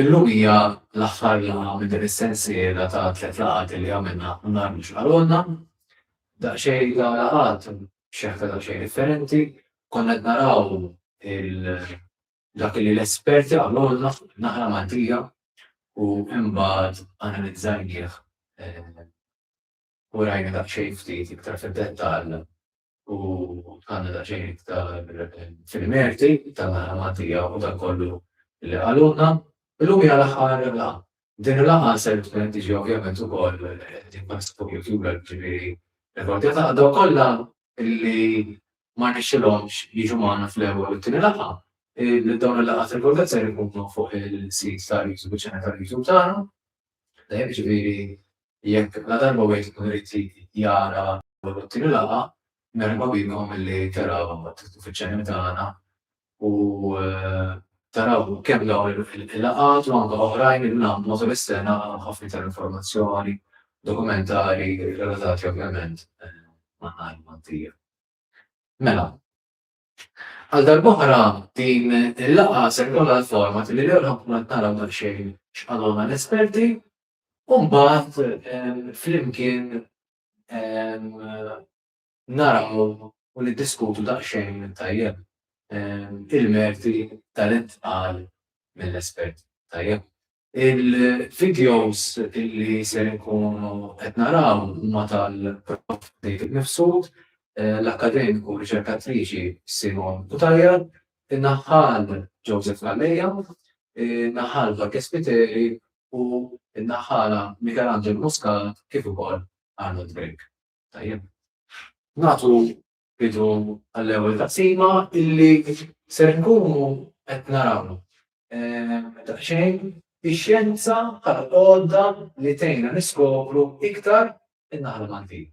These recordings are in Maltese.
Illum hija l-aħħar laqgħa minn din is-sensiela ta' tliet laqgħat illi għamilna nhar mhux bħal għodna. Daqsxejn dawn laqgħat b'xeħta daqsxejn differenti, konna qed naraw dak li l-esperti qalulna fuq in-naħla Maltija u imbagħad analizzajnieh u rajna daqsxejn ftit iktar fid-dettall u għandna daqsxejn iktar fil-merti tal-ħadma tiegħu u dak kollu li qalulna. Illum hija l-aħħar laqgħa. Din il-laqgħa ser tkun tiġi ovvjament ukoll tinbagħat fuq YouTube, ġifieri rekordjata għal dawk kollha li ma rnexxilhomx jiġu magħna fl-ewwel u t-tieni laqgħa. Dawn il-laqgħat rekordjati ser ikunu fuq il-sit tal-YouTube, iċ-ċanel tal-YouTube tagħna. Tajjeb, jiġifieri jekk ladarba wieħed ikun irid jara l-ewwel u t-tieni laqgħa, merħba bikom milli taraw titlu fiċ-channel tagħna u taraw kemm dawn il-laqgħat u anke oħrajn li nagħmlu matul is-sena ħafna iktar informazzjoni, dokumentari relatati ovvjament man-naħa Maltija. Mela, Għal darb'oħra din il-laqgħa ser ikollha l-format li l-ewwel ħankunu qed naraw daqsxejn x'qalulna l-esperti u mbagħad flimkien naraw u niddiskutu daqsxejn tajjeb il-merti tal-intqal mill-esperti. Tajjeb? Il-videos li ser inkunu qed naraw huma tal-Prof David Mifsud, l-akkademiku u riċerkatriċi Simone Cutajar, in-naħħal Joseph Calleja, in-naħħal Jorge Spiteri u n-naħħala Michelangelo Muscat kif ukoll Arnold Grech. Tajjeb. Nagħtu bidu għall-ewwel taqsima illi ser nkunu qed naraw daqsxejn ix-xjenza bħala għodda li tgħinna niskopru iktar in-naħa l-Maltin.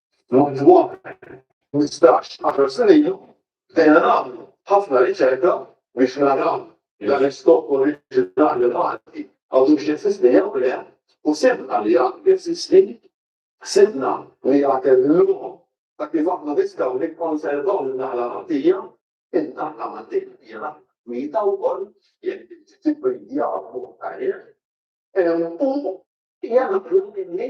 Lum dwar 15, 10 snin ilu bdejna nagħmlu ħafna riċerka biex naraw li l-istock oriġinali Malti għadux jeżisti jew le u sibna li għadu jeżisti. Sibna li għatem lok ta' kif aħna nistgħu nikkonservaw in-naħla Maltija. In-naħla Maltija hija mita wkoll jekk trid tibridjaha b'mod tajjeb u hija naħla li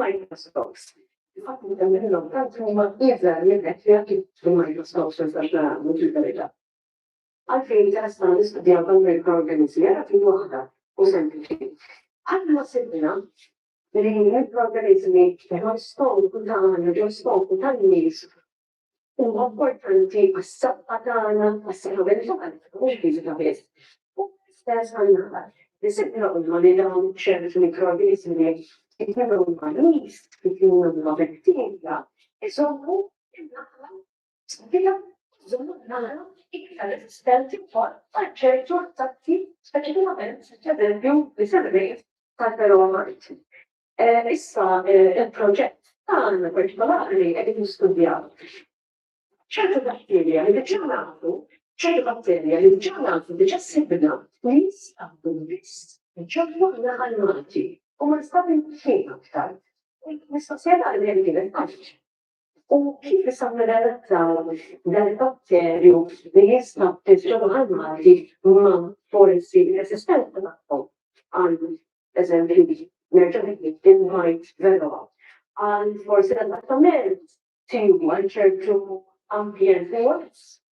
Microsoft. Il-fatt li hemm minnhom tant huma iżgħar minn hekk li anki fil-Microsoft ma nistax nara mhux il-verità. Għalfejn tasna nistudjaw dawn il-programmizmi għara fi waħda u sempliċi. Aħna sibna li l-programmizmi ġew skopu ta' għana ġew skopu tan-nies huma importanti għas-saħħa tagħna, għas-saħħa mentali, mhux fiżika biss, u l-istess għan-naħal. Isibna qudma li dawn ċertu mikroorganiżmi jkunu huma nies, jkunu huma bettilja, iżommu n-naħla sbija żommu n-naħla iktar resistenti wkoll għal ċertu attakki speċifikament pereżempju li semmejt tal-peromajt. Issa il-proġett tagħna partikolari qegħdin nistudjaw ċertu batterja li diġà nafu, ċertu batterja li diġà nafu diġà sibna li jinstabu biss ġewwa l-Baħar Malti u ma nstabu xejn aktar. Mistoqsija tagħna kienet għaliex u kif issa nirrelattaw dal-batterju li jinstab fil-ġewwa tal-Malti ma' foresti eżistenti tagħhom. Għal eżempju, nerġa' ngħid il-Mite velox għal forsi l-adattament tiegħu għal ċertu ambjent dehors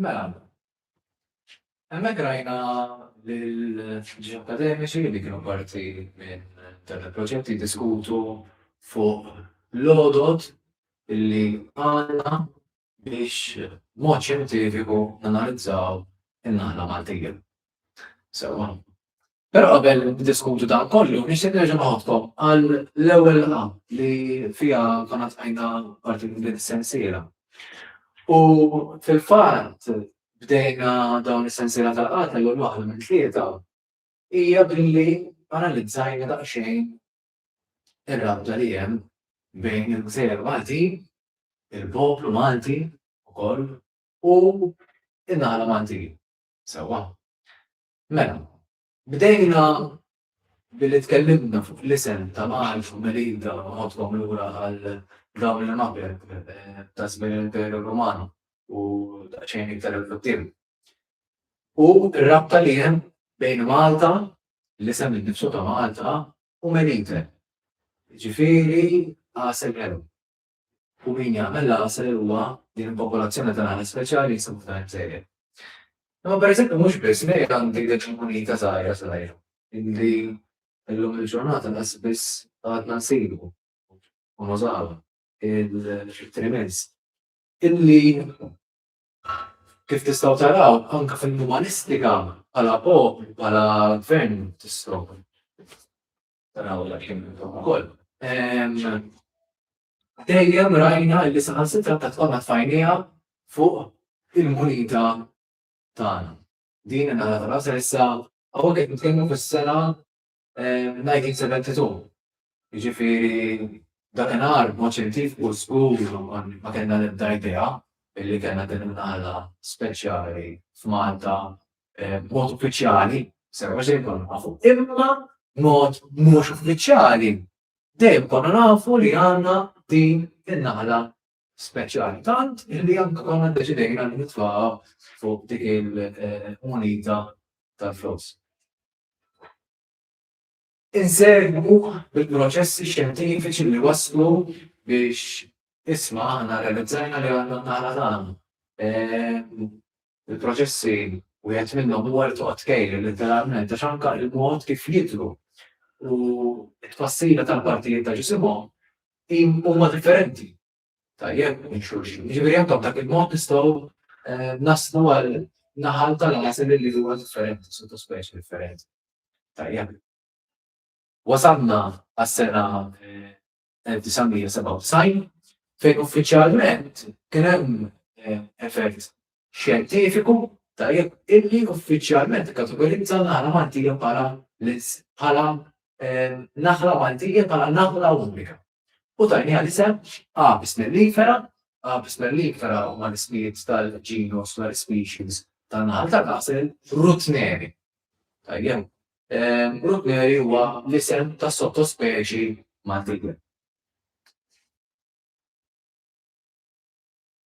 Mela, hemmhekk rajna l-ġi akademiċi li kienu parti minn dan il-proġett jiddiskutu fuq l-odot li għandna biex mod xjentifiku nanalizzaw in-naħla Maltija. Sewwa. Però qabel diskutu dan kollu, nixtieq nerġa' noħodkom għal l-ewwel laqgħa li fiha konna tqajna parti minn din is-sensiela. U fil-fatt bdejna dawn is-sensiela tal-qata jew waħda minn tlieta hija billi analizzajna daqsxejn ir-rabta li hemm bejn il-Gżejjer Maltin, il-poplu Malti wkoll u n-naħla Maltin. Sewwa. Mela, bdejna billi tkellimna fuq l-isem ta' Malf u Melinda u nħoddkom lura għal dawn l-imgħabeb ta' żmien l-Imperu Ruman u daqsxejn iktar 'il quddiem. U r-rabta li hemm bejn Malta, l-isem innifsu ta' Malta, u Melite, jiġifieri Għasel Ħelu. u min jagħmel laser huwa din il-popolazzjoni ta' nagħaġ speċjali li jsibu f'dan il-gżejjer. Imma pereżempju mhux biss, in Irja għandek dik il-munita żgħira żgħira illi llum il-ġurnata laqas biss għadna nsibu u nużawha il-trimens illi kif tistgħu taraw anke fil-umanistika bħala poplu, bħala gvern tistgħu Taraw li għaxin intom ukoll. Dejjem rajna li saħan sitra ta' tqoma tfajnija fuq il-munita tagħna. Din nara ta' rasa issa għawek qed nitkellmu fis-sena 1972. Jiġifieri dakinhar mod xjentif u skur ma kellna l-ebda idea illi kellna din imnaqla speċjali f'Malta b'mod uffiċjali, sewa xejn konna nafu, imma b'mod mhux uffiċjali dejjem konna nafu li għandna din in-naħla speċjali tant li anke konna ddeċidejna li nitfaqa fuq dik il-munita tal-flus. Insegwu l-proċessi xjentifiċi li wasslu biex isma' aħna rrealizzajna li għandna n-naħla tagħna. Il-proċessi wieħed minnhom huwa li toqgħod tkejjel letteralment għax anke l-mod kif jidhru u t-tfassila tal-partijiet ta' ġisimhom huma differenti. tajjeb minn xulxin. Jiġifieri anke b'dak il-mod nistgħu eh, naslu għal naħal tal-għasel li huwa differenti, sottospeċi differenti. Tajjeb. Wasalna għas-sena 1997 eh, fejn uffiċjalment kien hemm eh, effett xjentifiku tajjeb illi uffiċjalment ikkategorizza n-naħla Maltija bħala bħala naħla Maltija bħala naħla unika. U tajniha l-isem Apis mellifera, Apis mellifera huma l-ismijiet tal-ġinus tal-species tan-naħal ta' kasel Rutneri. Tajjem, Rutneri huwa l-isem ta' sottospeċi Maltija.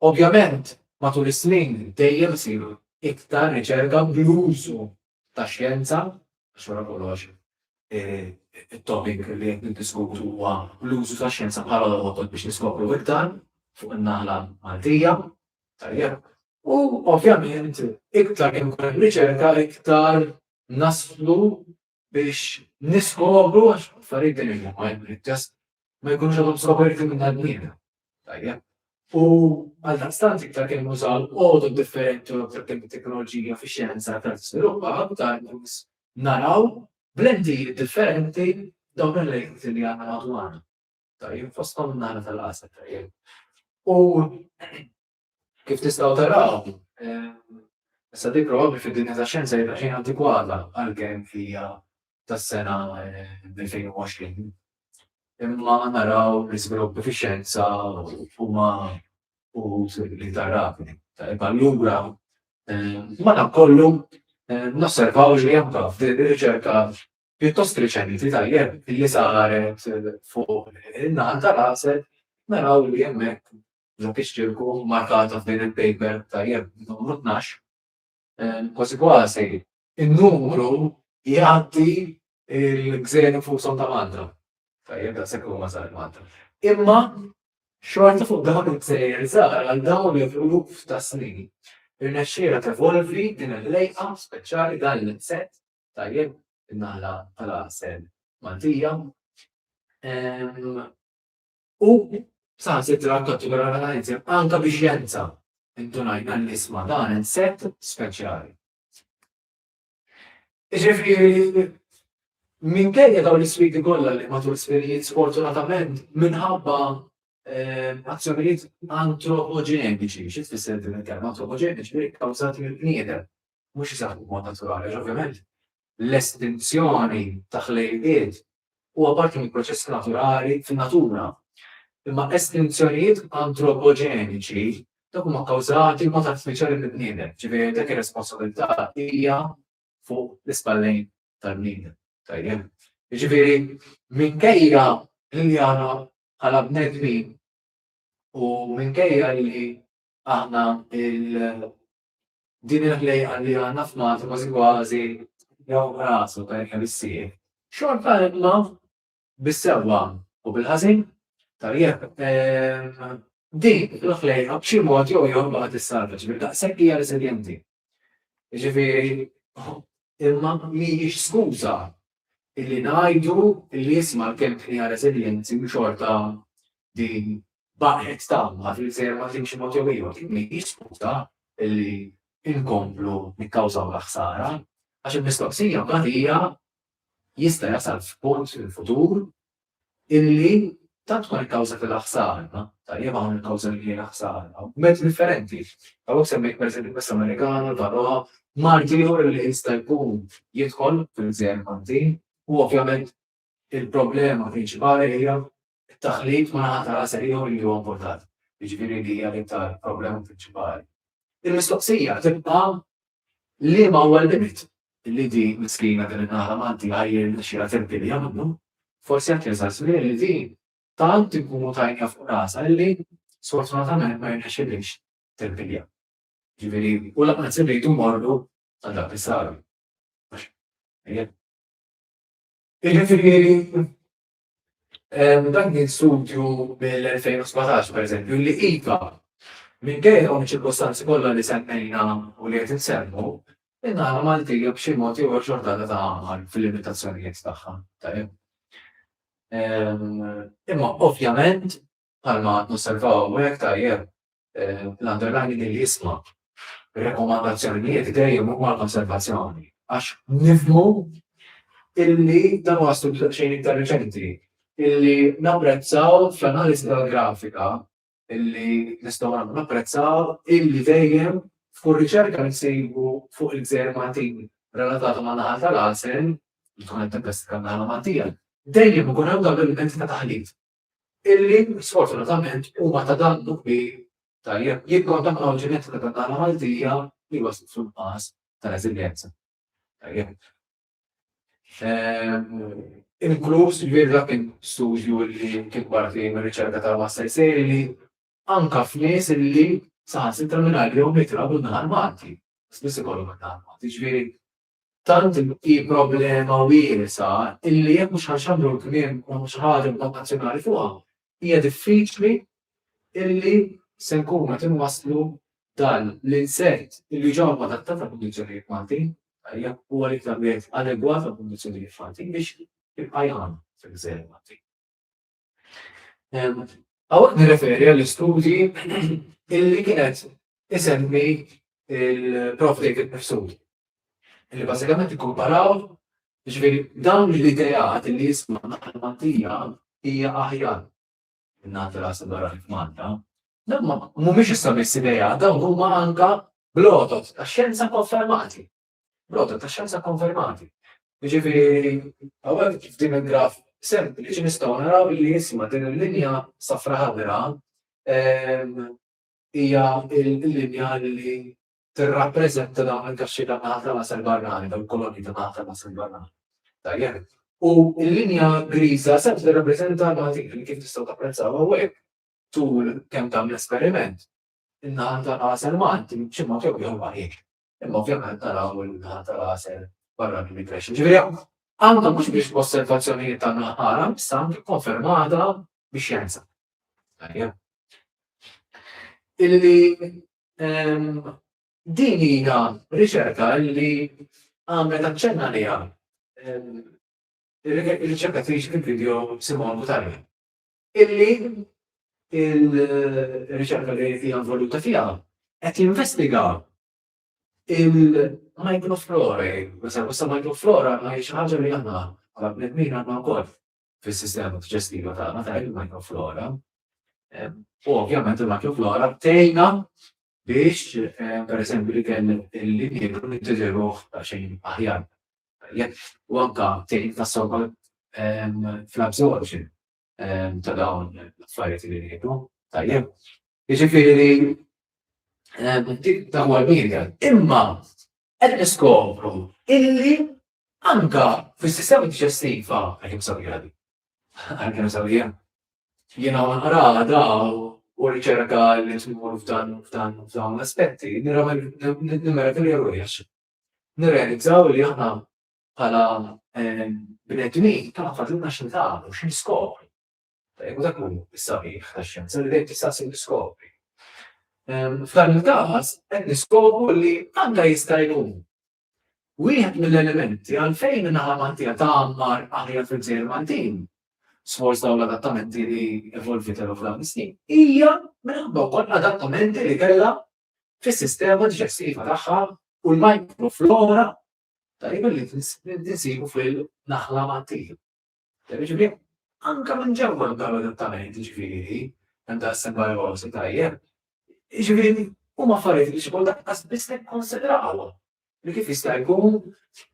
Ovvjament, matul is-snin dejjem isir iktar riċerka bl-użu tax-xjenza, għax wara kollox it-topic li qed niddiskutu huwa l-użu tax-xjenza bħala l-għodod biex niskopru iktar fuq in-naħla Maltija. Tajjeb. U ovvjament, iktar kemm ikun hemm riċerka, iktar naslu biex niskopru għax affarijiet li huma għajmu l-test ma jkunux għadhom skoperti minn għadnina. Tajjeb. U għal daqstant iktar kemm użaw għodu differenti u iktar kemm teknoloġija fi xjenza ta' sviluppa aktar naraw blendi differenti dawn il-lejt li għandna madwarna. Tajjeb, fosthom nara tal-qasar tajjeb. U Kif tistgħu taraw, issa dik probabbli fid-dinja tax-xjenza hija daqsxejn antikwata għalkemm hija tas-sena 2020. Imma naraw li żviluppi fix-xjenza huma uħud l-iktar rapidi. Allura, madankollu, nosservaw li anke f'din ir-riċerka pjuttost riċenti tajjeb li saret fuq in-naħa tal-għasel naraw li hemmhekk dak ix-ċirku markata f'din il-paper tajjeb numru tnax, kważi kważi in-numru jgħaddi l-gżejjer infushom ta' Malta. Tajjeb daqshekk huma żgħar Malta. Imma xorta fuq dawn il-gżejjer żgħar għal dawn l-eluf ta' snin irnexxielha tevolvi din il-lejqa speċjali dan l-insett tajjeb in-naħla tal-għasel Maltija. u saħansitra kategorizza anke bi xjenza indunajna li isma' dan insett speċjali. Ġifieri minkejja dawn l-isfidi kollha li matul sferijiet sfortunatament minħabba ehm, azzjonijiet antropoġeniċi, xi tfisser din il-kelma antropoġeniċi ġifieri kkawżati mill-bniedem, mhux iseħħu b'mod naturali għax ovvjament l-estinzjoni ta' ħlejqiet huwa parti minn proċess naturali fin-natura. Imma estinzjonijiet antropoġeniċi dawk huma kkawżati b'mod artifiċjali mill-bniedem, ġifieri dik ir-responsabilità hija fuq l-ispallejn tal-bniedem. Tajjeb. Jiġifieri minkejja li aħna bħala bnedmin u minkejja li aħna Din il-ħlejqa li għandna f'Malta kważi kważi jew rasu ta' kemm issir. Xorta imma bis-sewwa u bil-ħażin tajjeb din il-ħlejqa b'xi mod jew jew baqgħet issalvaġ bil daqshekk hija reżiljenti. Jiġifieri imma mhijiex skuża illi ngħidu illi isma' l-kelb ħniena reżiljenti u xorta din baqgħet tama li l-gżejjer ma timxi mod jew ieħor din mhijiex skuża illi nkomplu nikkawżawlha ħsara għax il-mistoqsija mbagħad hija jista' jasal f'punt fil-futur illi tant tkun il-kawża kellha ħsara, tajjeb hawn il-kawża li kienet ħsara, b'mezz differenti. Hawnhekk semmejt pereżempju il-pest Amerikana, il-Varroa, mard ieħor li jista' jkun jidħol fil-gżejjer Maltin u ovvjament il-problema prinċipali hija t-taħlit ma' naħa ta' għasel ieħor li huwa importat, jiġifieri li hija l-iktar problema prinċipali. Il-mistoqsija tibqa' liema huwa l-limit li din miskina din in-naħla Malti għad jirnexxilha tirpilja minnu. Forsi qed jasal żmien li din tant inkunu tajniha fuq rasha illi sfortunatament ma jirnexxilhiex tirpilja. Ġifieri, u lanqas irridu mmorru għal dak li sar. Il-ġifieri Hemm dan kien studju mill-2017 pereżempju li iva, minkejja dawn iċ-ċirkostanzi kollha li semmejna u li qed insemmu, in-naħla Maltija b'xi mod jew ieħor xorta għadha tagħmar fil-limitazzjonijiet tagħha, tajjeb. Imma ovvjament bħalma nosservaw hawnhekk tajjeb l-underlining li jisma' rekomandazzjonijiet dejjem huma l-konservazzjoni għax nifhmu illi dan huwa studju daqsxejn iktar reċenti illi napprezzaw fl-analiżi tal-grafika illi nistgħu nagħmlu napprezzaw illi dejjem f'kull riċerka li nsibu fuq il-gżejjer Maltin relatata man-naħal tal-għasel, li tkun qed tippestika n-naħla Maltija, dejjem ikun hemm dan l-element ta' taħlit. illi sfortunatament huma ta' dannu kbir tal-jekk jikkontaminaw il-ġenetika tat-tagħna Maltija li waslet fil-nuqqas ta' reżiljenza. Tajjeb. Inkluż ġifieri dak kien studju li kien parti mir-riċerka tal-Master Sejri li anke f'nies illi saħansitra mingħajr jew mitra minn naħa l-Malti, spiss ikollhom minn naħa l-Malti. Ġifieri Tant hi problema wiesgħa illi jekk mhux ħanxandru l-kliem u xi ħaġa b'mod nazzjonali fuqha, hija diffiċli illi se nkunu qed inwasslu dan l-insert illi ġa huwa adattat għall-kundizzjonijiet Maltin, hija huwa l-iktar wieħed adegwat għall-kundizzjonijiet Maltin biex jibqa' jgħum fil-gżejjer Maltin. Għawek nirreferi għall-istudji illi kienet isemmi il-Prof David Persud. Illi basikament ikkumparaw ġveri dawn l-idejat illi jisma naħmantija hija aħjar nagħti ras barra f'Malta. Dan mhumiex issa biss idejat, dawn huma anka blotot għax-xjenza konfermati. B'rotot tax-xjenza kkonfermati. Jiġifieri hawnhekk f'din il-graf sempliċi nistgħu naraw li isma' din il-linja safra ħadra hija l-linja li tirrappreżenta dawn il-kaxxi ta' naħa tal-għasel barrani, dawn il-kolonji ta' naħa tal-għasel barrani. Tajjeb. U l-linja griża se tirrappreżenta l-matik li kif tistgħu tapprezzaw hawnhekk tul kemm tagħmel esperiment. In-naħa tal-għasel Malti xi mod jew ieħor ma hiex. imma ovvjament naraw il-naħa tal-għasel barra mill-immigration. Ġifieri għandha mhux biex osservazzjonijiet ta' naħara, issa għandu konfermata biex xjenza. Illi ehm, din hija riċerka li għamlet aċċenna li għam. Ehm, riċerkatriċi fil-video Simon Butari. illi il-riċerka li hija involuta fiha qed jinvestiga il-microflora, meta wissa microflora ma hiex ħaġa li aħna għal bnedmin għandna wkoll fis-sistema diġestiva tagħna ta' il-microflora. U ovvjament il-microflora tgħinna biex, per eżempju, li kien il-linjegu nittiġeruħ ta' xejn aħjar. Jekk u anke tgħin tassew ukoll fl-absorption ta' dawn l-affarijiet li ngħidu. Tajjeb. Jiġifieri li dan huwa l-media. Imma qed niskopru illi anke fis-sistema diġestiva għalkemm sabiħa din. Għalkemm sabiħa. Jiena wara naqraha da u r-riċerka li tmur f'dan f'dawn l-aspetti, nirremedi li ruħi għax nirrealizzaw li aħna bħala bnedmin tagħna fadlilna xi nagħmlu, xi niskopru. U dak hu s-sabiħ tax-xjenza li dejjem tista' ssir niskopri. F'dan il-każ qed niskopru li għandha jista' jkun wieħed mill-elementi għalfejn in-naħa Maltija tagħmar aħjar fil-Gżejjer Maltin sforz dawn l-adattamenti li evolvitew f'dawn is-snin. Hija minħabba wkoll adattamenti li kellha fis-sistema diġestiva tagħha u l-mikroflora tajba li tinsibu fil-naħla mat-tim. Ġifieri, anke minn ġewwa nagħmlu adattament, ġifieri, hemm da' sembajosi tajjeb. Ġifieri, huma affarijiet li xi kultant qas biss nikkonsidrawhom li kif jista' jkun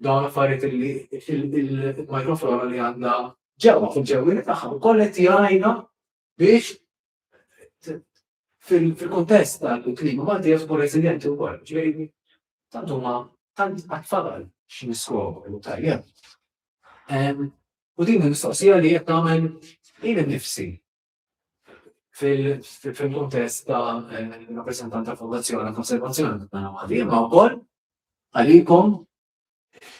dawn affarijiet li il-mikroflora li għandna ġewwa fil-ġewwieni tagħha wkoll qed jgħinna biex fil-kontest tal-klima Malti jasbu reżiljenti wkoll, ġifieri tant huma tant għat-tfadal x'niskopru tajjeb. U din il-mistoqsija li qed nagħmel jien innifsi fil-kontest ta' rappreżentant tal-Fondazzjoni Konservazzjoni ta' Malti, imma wkoll għalikom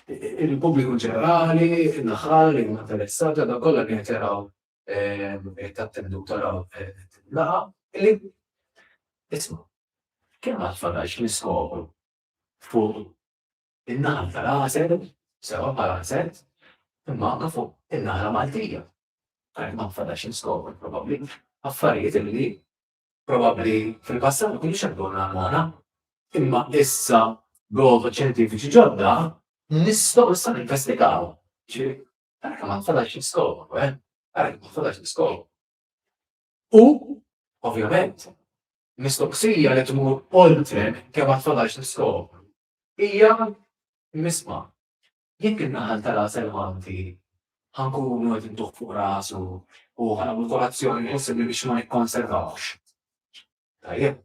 il-pubbliku ġenerali, in-naħal, li huma interessati, għal dawk kollha li qed jaraw, qed jattendu u taraw il-laqgħa, li isma' kemm għad fadal xi niskopru fuq in-naħal tal-għasel, sewwa bħala għasel, imma anke fuq in-naħla Maltija. Għalhekk ma nfadalx niskopru probabbli affarijiet li Probabbli fil-passat ma kinux jaqbdu għal Nagħlmona, imma issa b'għodod xjentifiċi ġodda nistgħu issa ninvestigaw. Ġifieri, ara kemm għad fadal xi niskopru, eh? Ara kemm għad fadal xi niskopru. U, ovvjament, mistoqsija li tmur oltre kemm għad fadal xi niskopru hija misma' Jekk in-naħal tal-għasel Malti ħa nkunu qed intuh fuq rasu u ħa nagħmlu kull azzjoni possibbli biex ma nikkonservawhx, tajjeb.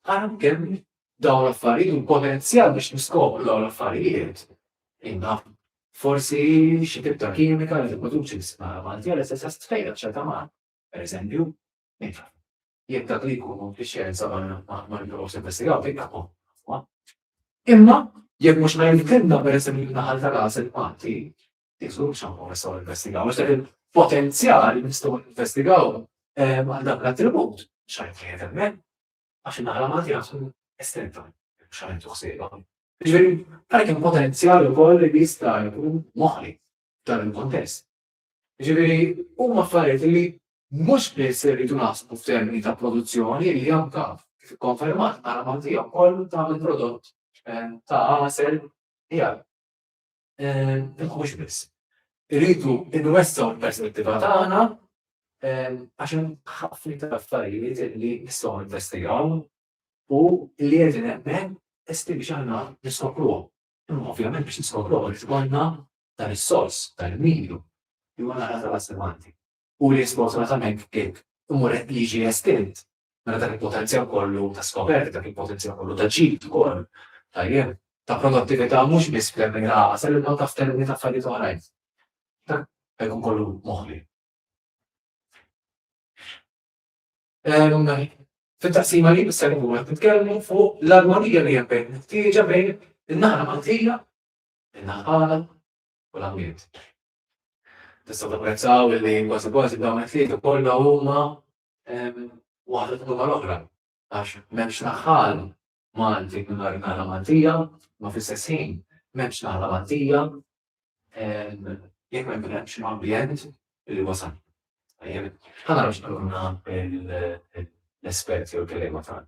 Ara kemm dawn l-affarijiet u l-potenzjal biex niskopru dawn l-affarijiet indab. Forsi xi tip ta' kimika li tipproduċi l-ispara Maltija li se se stfejjaq ċerta mar, pereżempju, min jaf. jekk dak li jkunu x-xjenza ma jibqgħux jinvestigaw fejn tagħhom. Imma jekk mhux ngħid il-kelma peress li naħal ta' ras il-Malti, jiżgur x'hawn ma nistgħu ninvestigaw għax dak il-potenzjal li nistgħu ninvestigaw għal dak l-attribut x'għajn fejn hemmhekk għax in-naħla Malti għaxu estretta x'għajn tuħsieba. Ġifieri, għalhekk hemm potenzjal ukoll li jista' jkun moħli dan il-kontest. Jiġifieri huma affarijiet li mhux biss irridu naħsbu f'termini ta' produzzjoni li anke, kif ikkonfermat, nara ma' tiegħu wkoll tagħmel prodott ta' għasel tiegħek. Imma mhux biss. Irridu nwessgħu l-perspettiva tagħna għax hemm ħafna iktar affarijiet li nistgħu ninvestigawhom u li qegħdin hemmhekk estivi biex aħna niskopruhom. Imma ovvjament biex niskopruh irid ikollna dan is-sors, dan il-medju, li huwa l-għargħar tal-assemanti. U li sfortunatament qed imur qed jiġi estint meta dak il-potenzjal kollu ta' skoperta, dak il-potenzjal kollu ta' ġid ukoll, tajjeb, ta' produttività mhux biss f'termini ta' għasel imma anke f'termini ta' affarijiet oħrajn. Dak jkun kollu moħbi. Fit-taqsima li jmiss ser ikunu qed nitkellmu fuq l-armonija li hemm bejn il-ħtieġa bejn in-naħa Maltija, in-naħa tagħna u l-ambjent. Tistgħu tapprezzaw li kważi kważi dawn it-tlieta kollha huma waħda tkun mal-oħra għax m'hemmx naħal Malti mingħajr naħla Maltija, imma fl-istess ħin m'hemmx naħla Maltija jekk ma jkunx hemm ambjent li wasal. Ħa naraw x'qalulna l-esperti u l-kelliema tagħna.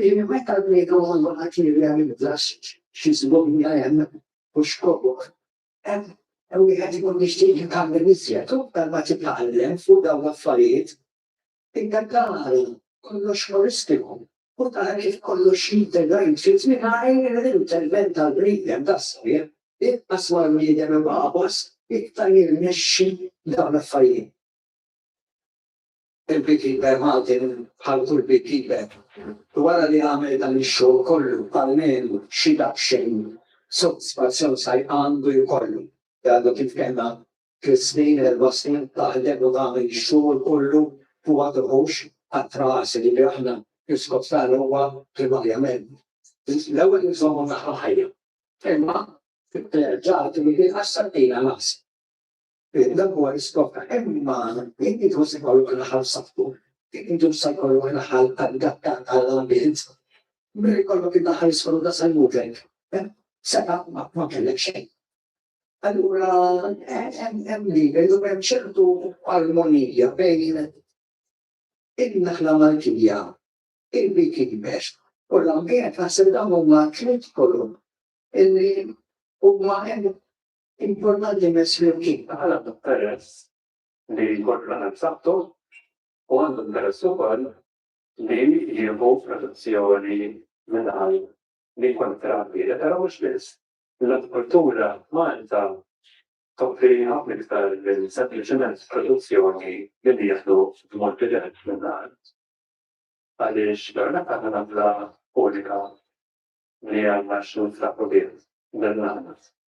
li meta l-bniedem għandu qatt jirrealizza xi żbobija hemm u x'kobor hemm, wieħed ikun jixtieq jitgħallem iżjed u aktar ma titgħallem fuq dawn l-affarijiet, inta tara kollox ħolistiku u tara kif kollox jintegra jitfit mingħajr l-intervent tal-bniedem tas-sħiħ, inqas ma l-bniedem imgħawas iktar jirnexxi f'dawn l-affarijiet. Il-beekeeper Martin bħal kull beekeeper, wara li għamel dan ix-xogħol kollu b'almenu xi daqsxejn sodisfazzjon saj għandu jkollu li għadu kif kellna tliet snin, erba' snin taħdem u tagħmel ix-xogħol kollu u ma tieħux qatra għasel li aħna l-iskop tagħna huwa primarjament l-ewwel inżommu naħa ħajja. Imma ġara li din qassar ilha l-għasel. Dak huwa l-iskop ta' imma jekk intom se jkollok raħal f'saħħtu, jekk intom se jkollok raħal adattat għall-ambjent, milli jkollok iddaħħal is-soluta salmutek, seta' ma kellek xejn. Allura hemm li jridu hemm ċertu armonija bejn in-naħla Maltija, il-beekeepers u l-ambjent naħseb dawn huma tliet kolom illi huma hemm Importanti immens li l-kejl ta' ħaleb għandu peress li jkompli għal b'saħħtu u għandu peress ukoll li jieħu protezzjoni mingħajr li jkun it-trawwieħed, però mhux biss. L-agrikoltura f'Malta toffri ħafna iktar minn sempliċement produzzjoni li nieħdu b'mod dirett mill-art. Għaliex l-għarnaq għandha l-għażla unika li għandna x'ninfraħu bih dan l-għażla.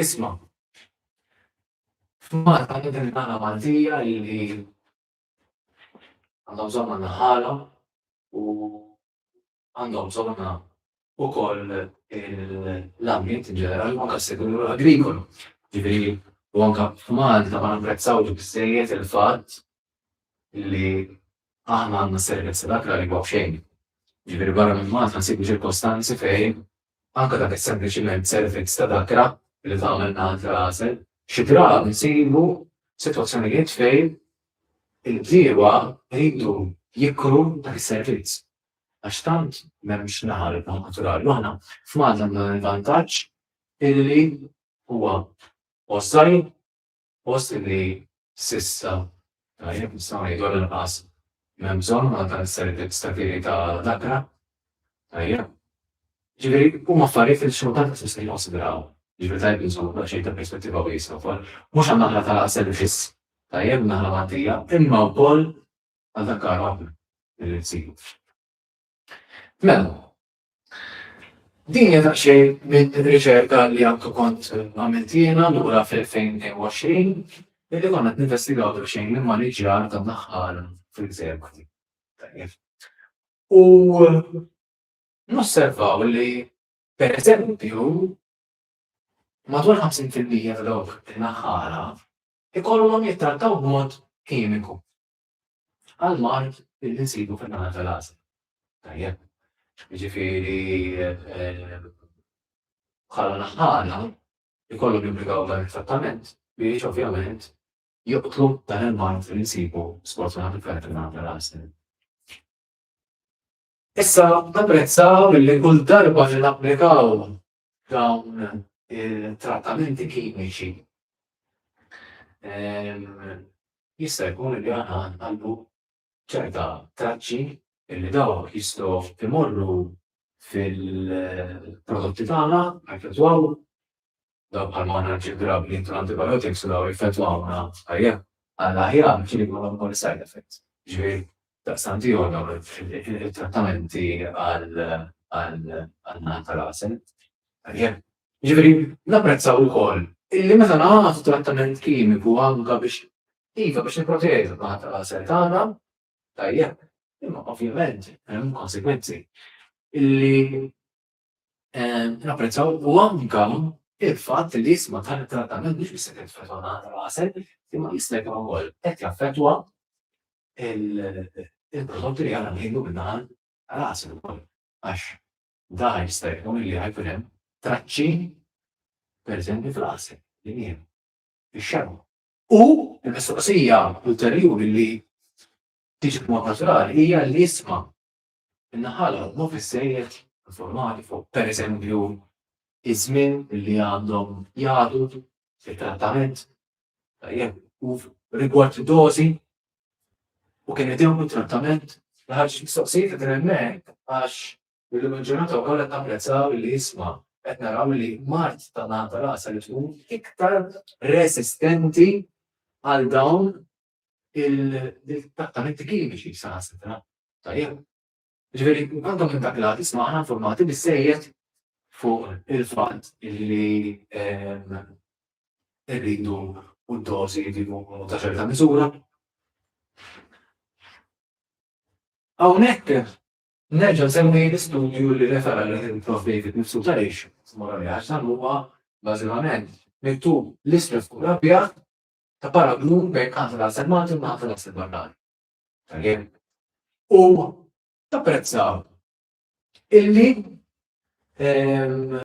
Isma', f'Malta għandna din il-ħala Maltija li għandha bżonn għandna ħala u għandhom bżonnha wkoll l-ambjent in ġenerali u anke s-settur agrikolu. Jiġifieri u anke f'Malta ma napprezzawx biżżejjed il-fatt li aħna għandna servizzi ta' dak l-għalli huwa b'xejn. Jiġifieri barra minn Malta nsibu ċirkostanzi fejn anke dak is-sempliċiment servizz ta' dakra li tagħmel minn għand rasek. Xi drabi nsibu sitwazzjonijiet fejn il-bdiewa jridu jikru dak is-servizz għax tant m'hemmx naħal il-baħar naturali u aħna f'Malta għandna dan il-vantaġġ illi huwa post żgħir Post illi s'issa, tajjeb, nistgħu ngħidu għall-inqas, m'hemm bżonn għal dan is-servizz ta' kiri ta' dakra, tajjeb. Ġifieri, huma affarijiet li xorta waħda tista' jikkonsidraw. Ġifieri tajjeb li nżommu daqsxejn ta' perspettiva wiesgħa wkoll. Mhux għan-naħla ta' servizz, tajjeb, in-naħla Maltija, imma wkoll għal dak karogħ li rrid isiru. Mela, Din hija daqsxejn minn riċerka li għandu kont għamilt jiena lura fl-2020 billi konna qed ninvestigaw daqsxejn l-immaniġġjar tan-naħal fil-gżejjer Maltin. Tajjeb. U nosservaw li pereżempju madwar 50% ta' dawk in-naħħala ikollhom jittrattaw b'mod kimiku. għall-mard li nsibu fin-naħa tal-għasel. Tajjeb. Jiġifieri bħala naħħala jkollhom jimplikaw dan it-trattament biex ovvjament joqtlu dan il-mard li nsibu sfortunatament fejn kien għandha rasen. Issa napprezzaw li kull darba li napplikaw f'dawn it-trattamenti kimiċi, jista' jkun li aħna nħallu ċerta traċċi li dawk jistgħu jmorru fil-prodotti tagħna, jaffettwaw dawk bħal ma aħna nġibrabbli intu antibiotics u daw jaffettwawna tajjeb għall-aħjar ġieli jkollhom ukoll side effects. Ġifieri Daqstant hi waħda mit-trattamenti għall-għan tal-għasel. Tajjeb. Jiġifieri napprezzaw ukoll illi meta nagħtu trattament kimiku anke biex iva biex nipproteġu l-għan tal-għasel tagħna, tajjeb, imma ovvjament hemm konsegwenzi illi Napprezzaw u anka il-fatt li jisma dan it-trattament mhux biss qed jaffettwa nagħna l-għasel, imma jista' jkun ukoll qed jaffettwa il-prodotti li aħna nieħdu min-naħa tal-għasel ukoll. Għax dan jista' jkun li ħa jkun hemm traċċi pereżempju fl-għasel li nieħdu, fix-xemgħa. U l-mistoqsija ulterjuri li tiġi b'mod naturali hija li jisma Min-naħa l-oħra mhu biżżejjed informati fuq, pereżempju, iż-żmien li għandhom jagħtu it-trattament, tajjeb, u rigward dożi u kemm idewmu t-trattament. Ħarġ mistoqsijiet qegħdin hemmhekk għax illum il-ġurnata wkoll qed napprezzaw li isma' qed naraw li mard ta' naħa ta' rasa li tkun iktar resistenti għal dawn il-trattamenti kliniċi saħansitra. Tajjeb. Ġifieri, għandhom minn dak l-għad isma' aħna informati bissejjed fuq il-fatt li rridu u d-dożi li jkunu ta' ċerta miżura. Hawnhekk nerġa' nsemmi l-istudju li refera lejh il-Prof. David Mifsud għaliex, mara li għax dan huwa bażikament miktub l-isfel fuq l-abjad ta' paragnu bejn Qafel Għasel Malti u Qafel Għasel Barrani. Tajjeb. U tapprezzaw illi ehm,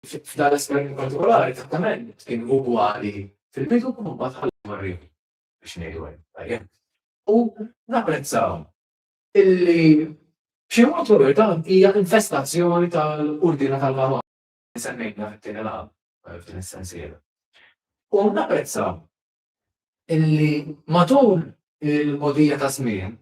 f'dan l-esperiment partikolari trattament kien ugwali fil-bidu u mbagħad ħallu marri biex ngħidu hemm. Tajjeb. U napprezzaw illi b'xi mod dan hija infestazzjoni tal-ordina tal-Marokk. semmejtna fit-tieni laqgħa f'din is-sensiela. U napprezza illi matul il-mogħdija ta' żmien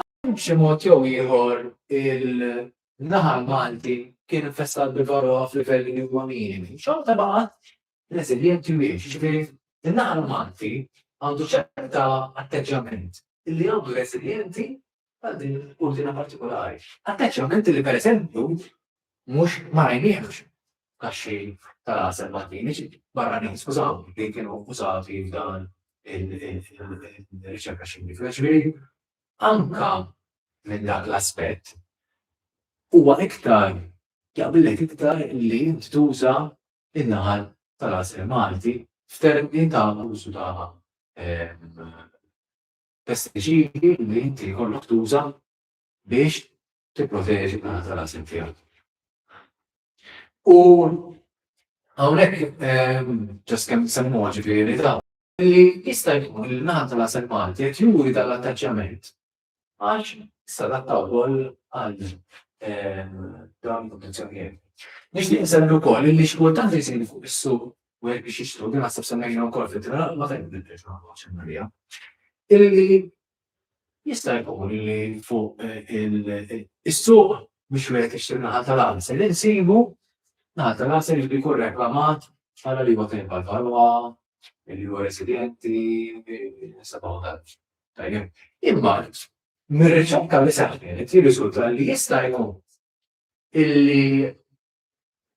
għal xi mod jew ieħor il-naħa Malti kien infestat bil-varroa f'livelli li huma minimi. Xorta baqgħet reżiljenti u hiex, jiġifieri in-naħal Malti għandu ċerta atteġġjament li għamlu reżiljenti għal din il-kurdina partikolari. Atteġġjament li pereżempju mhux ma rajniehx kaxxi tal-għasel Maltin, barranin skużaw, li kienu użati f'dan il-riċerka xjentifika. Ġifieri anka minn dak l-aspett huwa iktar jaqbillek iktar li inti tuża in-naħal tal-għasel Malti f'termini ta' użu ta' pestiċidi li inti jkollok tuża biex tipproteġi n-naħal tal-għasel tiegħek. U hawnhekk ġast kemm semmuha ġifieri dawn li jista' jkun li n-naħal tal-għasel Malti qed juri dan l-attaċjament għax sadatta wkoll għal dawn il-kundizzjonijiet. Nixtieq insemmi wkoll li xi kultant li jsir fuq is-suq u hekk biex jixtru din naħseb semmejna wkoll fit-tra ma fejn niddex ma nħoġġ Marija. Illi jista' jkun li fuq is-suq biex wieħed jixtri naħa tal-għasel insibu naħa tal-għasel li jkun reklamat għal li huwa tajjeb għall-ħalwa, li huwa residenti, sabaw tal Tajjeb. Imma mir-riċerka li seħħet jirriżulta li jista' jkun illi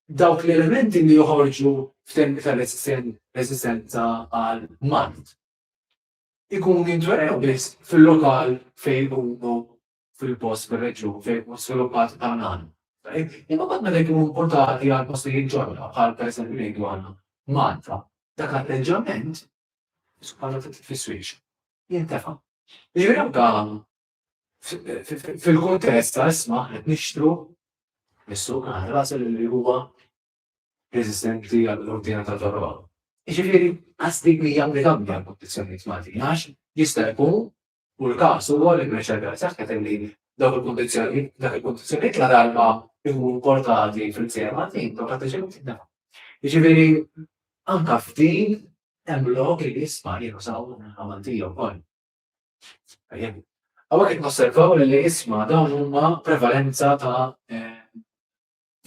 dawk l-elementi li joħorġu f'tempi ta' resistenza għal mart ikunu jintwerew biss fil-lokal fejn huma fil-post, fir-reġjun fejn tkun żviluppat il-kanal. Imma mbagħad meta jkunu importati għal postijiet ġodda, bħal pereżempju ngħidu għal Malta, dak l-atteġġjament, subħana ta' titfisswiex, jintefa'. Jiġifieri anke fil-kuntest ta' isma' qed nixtru mis-suq ħasel li huwa resistenti għall-ordina ta' torba. Jiġifieri qasdik li jagħmel għamja l-kundizzjonijiet Maltin għax jista' jkun U l-każ huwa li b'reċerka li saħħet illi dawk il-kundizzjonijiet, dak il-kundizzjonijiet ladarba jkunu importati fil-gżejjer Maltin, dawk l-atteġġjamenti jintneħħu. Jiġifieri anke f'din hemm lok li jisma' li jużaw il-minħa Maltija wkoll. Hawnhekk qed nosservaw li l-isma dawn huma prevalenza ta'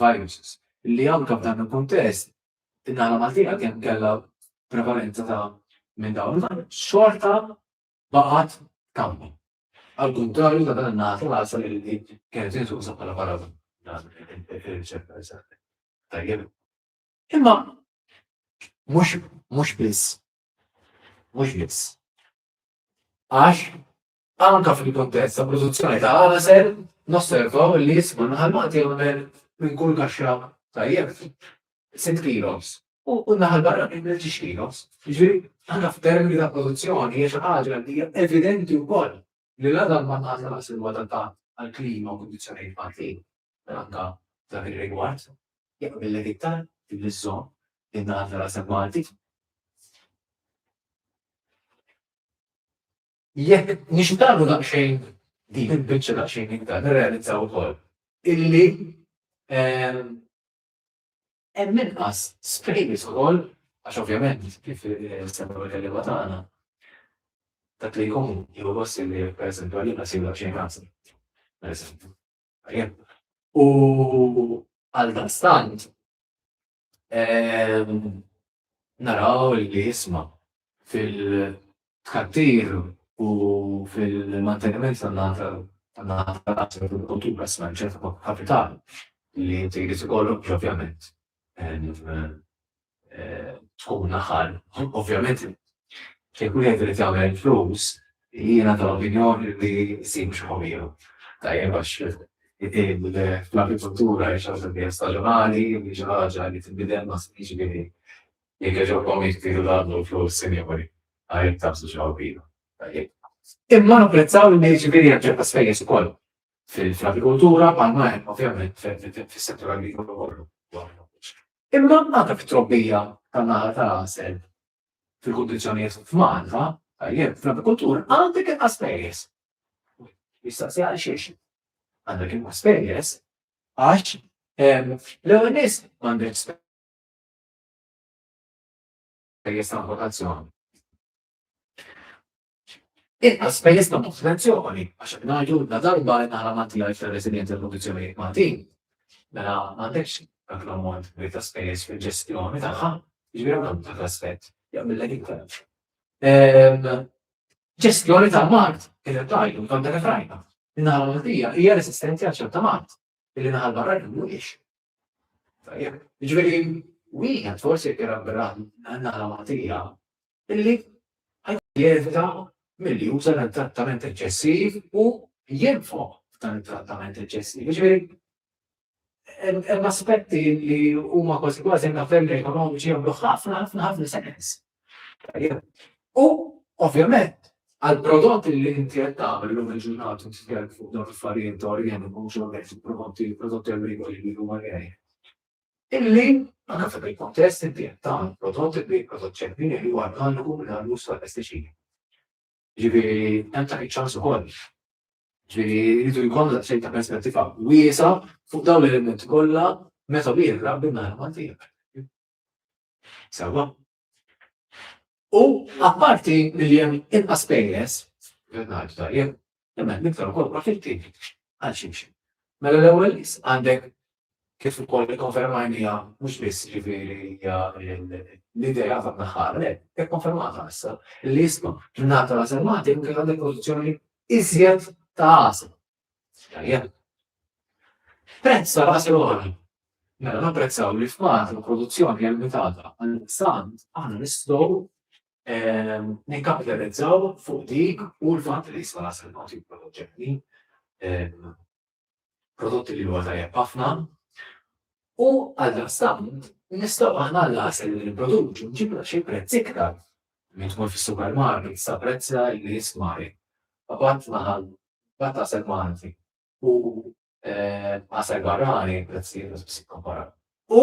viruses li anke f'dan il-kuntest in-naħla Maltija kemm kellha prevalenza ta' minn dawn il-virus xorta baqgħet tkammi. Għall-kuntrarju ta' dan in-naħa tal-għassa li li kienet intuża bħala paragun ir-riċerka li saret. Tajjeb. Imma mhux mhux biss mhux biss. Għax anka fil-kontest ta' produzzjoni ta' għasel nosservaw li jisma' naħal maqti minn kull kaxxa tajjeb. sitt kilos u n-naħa l-barranin b'tlietix kilos. Jiġifieri, aħna f'termini ta' produzzjoni hija xi ħaġa li hija evidenti wkoll li la dan ma ngħata lanqas li huwa adattat għall-klima u kundizzjonijiet Maltin, mela anke f'dak ir-rigward jaqbillek iktar li żżomm in-naħal ta' rasek Malti. Jekk nixtarru daqsxejn din il-biċċa daqsxejn iktar nirrealizzaw ukoll illi Hemm inqas spejjeż ukoll għax ovvjament kif semmew il-kelliema tagħna dak li jkun jieħu gost li pereżempju għalina jsir daqsxejn ħażin. Pereżempju. U għal dastant naraw li jisma' fil- tkattir u fil-manteniment tan-naħa tan-naħa tal-qasem tal-kultura s-smanċet kapital li inti jrid ikollok ovvjament tkun naħal. Ovvjament kien ikun jgħid li tagħmel flus jiena tal-opinjoni li jsir mhux ħomiju. Tajjeb għax l-agrikoltura hija xi ħaġa li hija staġjonali, hija xi ħaġa li tinbidel ma' jiġifieri Jekk jogħġobkom jekk tridu tgħaddlu l-flus, sinjuri, għalhekk tagħżlu xi ħolbina, tajjeb. Imma napprezzaw li jiġifieri hemm ċerta spejjeż ukoll fil-agrikoltura bħalma hemm ovvjament fis-settur agrikolu kollu. Imma anke fit-trobbija tan-naħal tal-għasel fil-kundizzjonijiet f'Malta, tajjeb, fl-agrikoltura għandek inqas spejjeż. Jistaqsi għal xiex. Għandek inqas spejjeż għax l-ewwel nies m'għandek spejjeż Spejjeż ta' importazzjoni. Inqas spejjeż ta' importazzjoni għax qed ngħidu la darba qed naħla ma' tiegħi fir-residjenza jew kundizzjonijiet Maltin, mela m'għandekx dak l-ammont kbir ta' spejjeż fil-ġestjoni tagħha, jiġifieri hawn għandu dak l-aspett jaqbillek iktar. Ġestjoni tal-mard kif qed tgħidu, tant kif rajna. In-naħa Maltija hija resistenti għal ċerta mard, illi naħa l-barranin mhuwiex. Tajjeb, ġveri, wieħed forsi irabra għanna matija illi jevita mill-li juża dan trattament eċċessiv u jenfo dan il-trattament eċċessiv. Ġveri, hemm aspetti li huma kważi kważi nafem ekonomiċi jagħmlu ħafna ħafna ħafna sens. U ovvjament għall-prodotti li inti qed tagħmel illum il-ġurnata titkellem fuq dawn l-affarijiet ta' orjeni mhux orjeni fil-prodotti prodotti agrikoli li huma orjeni. Illi anke f'dak il-kontest inti qed tagħmel prodotti li prodott ċempini li huwa organiku minn għal użu tal-pestiċidi. Ġifieri hemm ta' iċ-ċans ukoll. Ġifieri jridu jkollna xejn ta' perspettiva wiesa' fuq dawn l-elementi kollha meta wieħed rabbi n-nagħlem għal tiegħek. Sewwa. U apparti li hemm inqas pejjeż, qed ngħidu tajjeb, imma hemm iktar ukoll profitti għal ximxi. Mela l-ewwel nies għandek kif ukoll ikkonfermajniha mhux biss ġifieri hija l-idea ta' naħħar, le, hekk konfermata issa li isma' tingħata l-għażel Malti minn kif għandek pożizzjoni iżjed ta' għażel. Tajjeb. Prezz ta' ras għoli. Mela napprezzaw li f'Malta l-produzzjoni hija limitata għal sant aħna nistgħu ehm, nikkapitalizzaw fuq dik u l-fatt li jista' nasel ma' tip prodotti ehm, prodotti li huwa tajjeb ħafna. U għal sant nistgħu aħna l-għasel li nipproduċu nġibla xi prezz iktar minn tkun fis-supermarket sa prezz li jismari. Għabat naħal Mbagħad għasel Malti u għasel barrani prezzijiet mhux biss ikkomparaw. U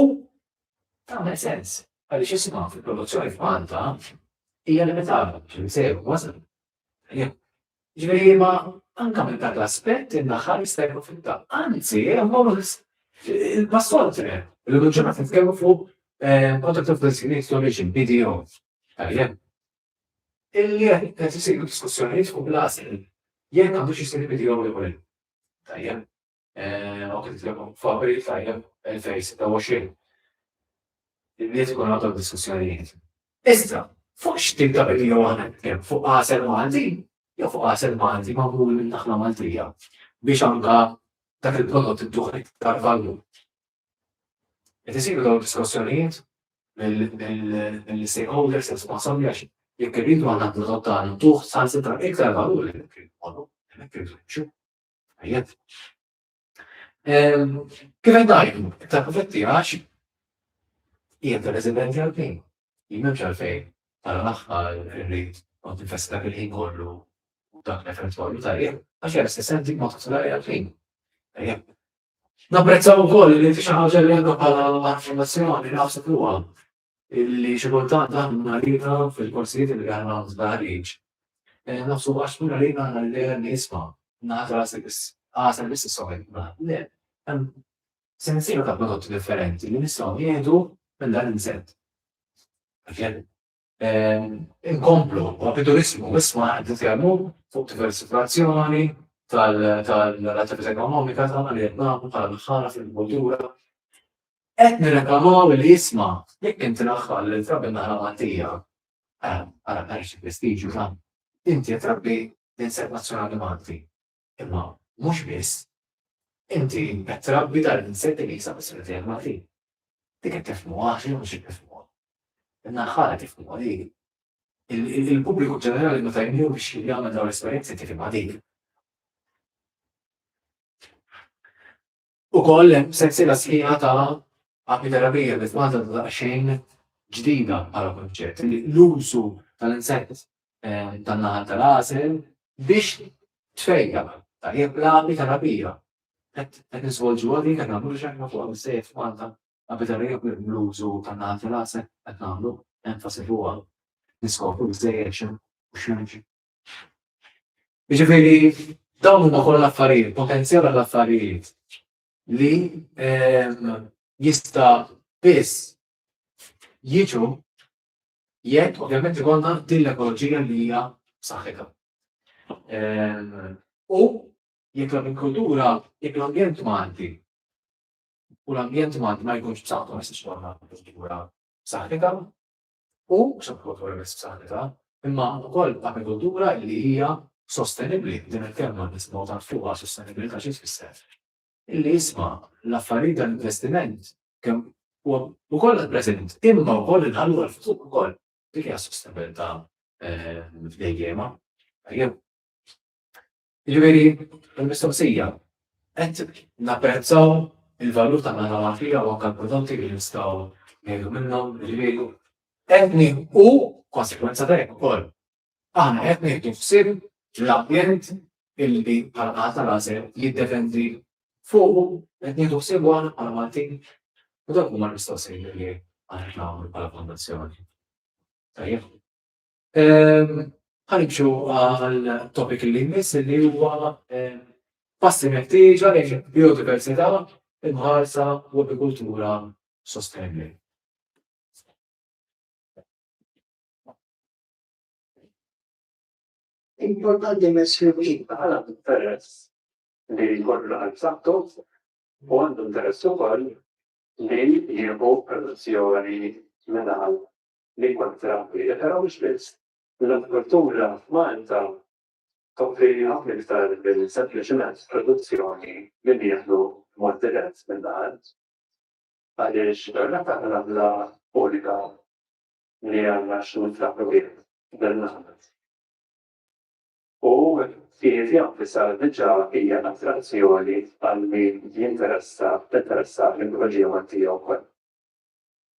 tagħmel sens għaliex isimha fil-produzzjoni f'Malta hija limitata biex insejru wasal. Ġifieri ma anke minn dak l-aspett in-naħal jista' jkun fil-ta. Anzi, hemm il-passot il-ġurnata nitkellmu fuq Contract of Designation, BDO. Illi qed qed isiru diskussjonijiet fuq l-għażel jekk għandux isir il-bidil jew le. Tajjeb. Hawn qed titlobhom f'April tajjeb 2026. Il-Milied ikun għadhom diskussjonijiet. Iżda, fuq x'tip ta' bidil jew aħna nitkellmu? Fuq għasel Malti jew fuq għasel Malti magħmul minn naħla Maltija biex anke dak il-prodott idduh iktar valur? Qed isiru dawn id-diskussjonijiet mill-stakeholders responsabbli għax jekk irridu għandna l-prodott tagħna ntuh saħansitra iktar valur li hemmhekk irridu mmorru, hemmhekk irridu nimxu. Tajjeb. Kif qed ngħidu, iktar profitti għax hija ta' residenti għall-ħin. Jien m'hemmx għalfejn tara l-aħħar irrid kont infessi dak il-ħin kollu u dak l-effett kollu tajjeb għax hija resistenti b'mod partikolari għall-ħin. Tajjeb. Napprezzaw ukoll li inti xi ħaġa li għandna bħala affermazzjoni naħseb huwa li xi kultant aħna marida fil-korsijiet li għandna żbarriġ. Eh, naħsu għax minn għalina għandna li dejjem nisma' naħdra għasel biss is-soħel. Le, hemm sensiela ta' prodotti differenti li nistgħu jieħdu minn dan l-inżett. Inkomplu, b'opportunizmu, issa qed nitkellmu fuq diversifikazzjoni tal-attività ekonomika tagħna li qed nagħmlu bħala dħala fil-kultura. Qed nirreklamaw li isma' jekk inti naħħal li trabbi naħla Maltija, ara xi prestiġju ta' inti qed trabbi insett nazzjonali Malti. imma mhux biss, inti qed trabbi dan l-insetti li jinsab fis-sħiħ tiegħek Maltin. Dik qed tifhmuha għax jien mhux qed nifhmuha. In-naħħa qed jifhmuha li il-pubbliku ġenerali meta jmur biex jagħmel dawn l-esperjenzi tifhimha dik. Ukoll hemm sensiela sħiħa ta' apiterapija li f'Malta għadha daqsxejn ġdida bħala kunċett, l-użu tal-insett tan-naħal tal-għasel biex tfejja, tajjeb l-apiterapija. Qed nisvolġuha din qed nagħmlu xi ħaġa fuqha biżżejjed f'Malta, apiterapija bl-użu tan-naħal tal-għasel qed nagħmlu enfasi fuqha, niskopru biżżejjed x'hemm u x'm'hemmx Jiġifieri dawn huma kollha affarijiet, potenzjal għal affarijiet li ehm, jista' biss jiġu jekk ovvjament ikollna din l-ekoloġija li hija saħħitha. Ehm, u jekk l-agrikoltura, jekk l-ambjent Malti u l-ambjent Malti ma jkunx b'saħħtu ma jistax ikollna agrikoltura saħħitha, u sottokultura bis-b'saħħitha, imma wkoll agrikultura li hija sostenibbli, din il-kelma nisimgħu tant fuqha, sostenibilità xi tfisser? Illi jisma' l-affarijiet dan l-investiment kemm huwa wkoll għall-preżent, imma wkoll inħallu għall-futur ukoll. Dik hija s-sostenibilità dejjiema. Jew. Jiġifieri, il-mistoqsija, qed napprezzaw il-valur ta' nagħna magħfija u anke l-prodotti li nistgħu ngħidu minnhom, jiġifieri, qed nieħu konsegwenza ta' hekk ukoll. Aħna qed nieħdu ħsieb l-ambjent illi bħala naħa tal-għażel jiddefendi fuq qed nieħdu ħsieb aħna bħala Maltin U dak huma l-mistoqsijiet li aħna nagħmlu bħala fondazzjoni. Tajjeb. Ħanġu għal topic li jmiss li huwa passi meħtieġa lejn biodiversità imħarsa u agrikultura sostenibbli. Importanti messju kif għal interess li jkollu l-qalb saħħtu u għandu interess ukoll li jieħu produzzjoni mingħand li jkun ttrabbija, però mhux biss. L-agrikoltura f'Malta tkopri ħafna iktar minn sempliċiment produzzjoni li nieħdu b'mod dirett mill-art, għaliex ir-rata tal-għamla unika li għandna x'nur ntrabblu bih dan l-għamla u fih jenfisha diġà hija attrazzjoni għal min jinteressa, tinteressa l-ekoloġija Maltija wkoll.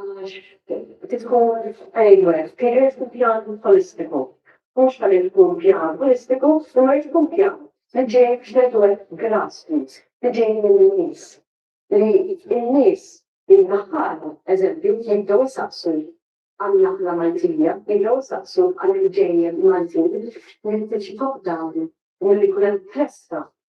Għax trid tkun framework, trid ikun pjan ħolistiku. Mhux ħalli tkun pjan ħolistiku, imma jrid ikun pjan li ġej x'nedwar grassroots, li ġej mill-nies. Li n-nies in-naħal, eżempju, jibdew isaqsu għan-naħla Maltija, jibdew isaqsu għall-ġejjel Maltin, li tiġi top down u li jkun hemm festa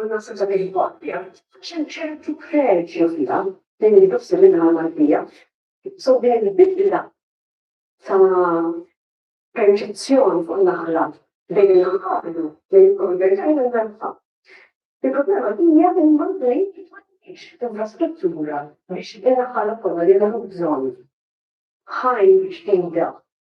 U naħseb dak il-koppja, xem ċertu preġju fija, din li nofsi minnha mal-bija, so din il-bidla ta' perċezzjoni fuq naħla bejn il-ħablu li jikkonvertajn il-merfa. Il-problema hija li l-mandri tfannix infrastruttura biex il-ħala kollha li għandhom bżonn ħajn ġdida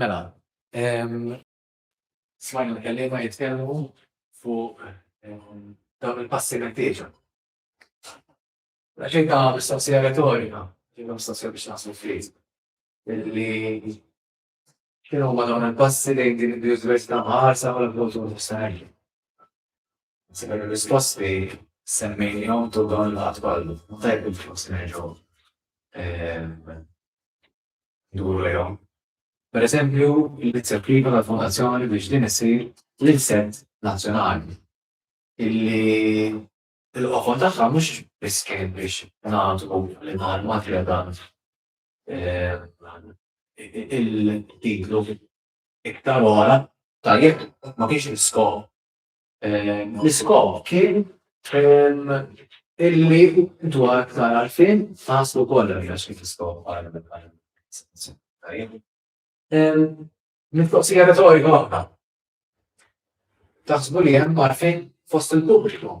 Mela, smajna l-kelliema jitkellmu fuq dawn il-passi meħtieġa. Għaxin ta' mistoqsija retorika, ġinna mistoqsija biex naħsbu fil-kriżi. Li X'inhuma dawn il-passi lejn din il-biodiversità mħarsa bħala prodott sostenibli? Sebbien ir-risposti semmejnihom tul dawn il-laqgħat kollha, ma tajjeb li forsi nerġgħu nduru lejhom. Pereżempju, l-inizjattiva tal-Fondazzjoni biex din issir l-ilsent nazzjonali illi l-qofol tagħha mhux biss kien biex nagħtu lil l-armati għal dan il-titlu iktar ora tajjeb ma kienx l-iskop. L-iskop kien illi dwar aktar għarfien taslu kollha li għax kif iskop Mistoqsija retorika waħda. Taħsbu li hemm għarfien fost il-pubbliku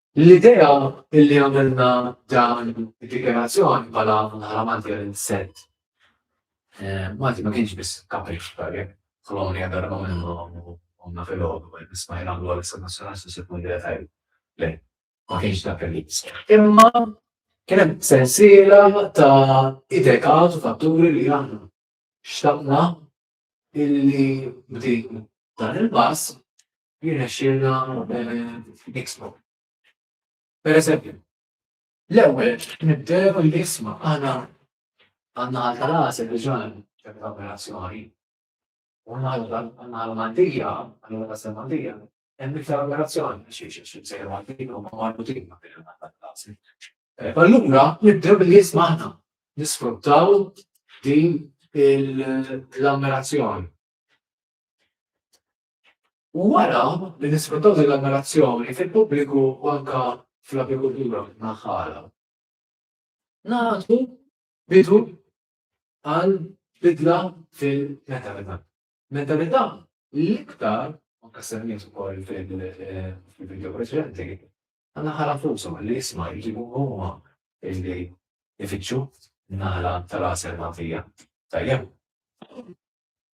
L-idea li għamilna dan id-dikjarazzjoni bħala bħala Malti għal sent Malti ma kienx biss kapriċ bħalli kolonja darba minnhom u għamna fil-għodu għal nismajna għal għal s-nazzjonal s-sekund li għatajl. Le, ma kienx dak li Imma kienem sensiela ta' idekat u fatturi li għanna. Xtaqna illi b'din dan il-pass jirnexxielna niksbu. Pereżempju, l-ewwel nibdew l-isma aħna għandna għal tal-għasel diġà ċerta operazzjoni. U għandna l-mandija, għandna l-għasel mandija, hemm iktar operazzjoni biex jiexu sejru għandin u ma marbutin ma' bil-għasel. Allura nibdew l-isma aħna nisfruttaw din l-ammirazzjoni. U wara li nisfruttaw din l-ammirazzjoni fil-pubbliku u anke fl-apikultura naħħara, nagħtu bidu għal bidla fil-mentalità. Mentalità li iktar, anke semmiet ukoll fil-video preċedenti, naħħar nfusha li jisma' jġibu huma li jfittxu naħla tal-għasel nagħtija. Tajjeb.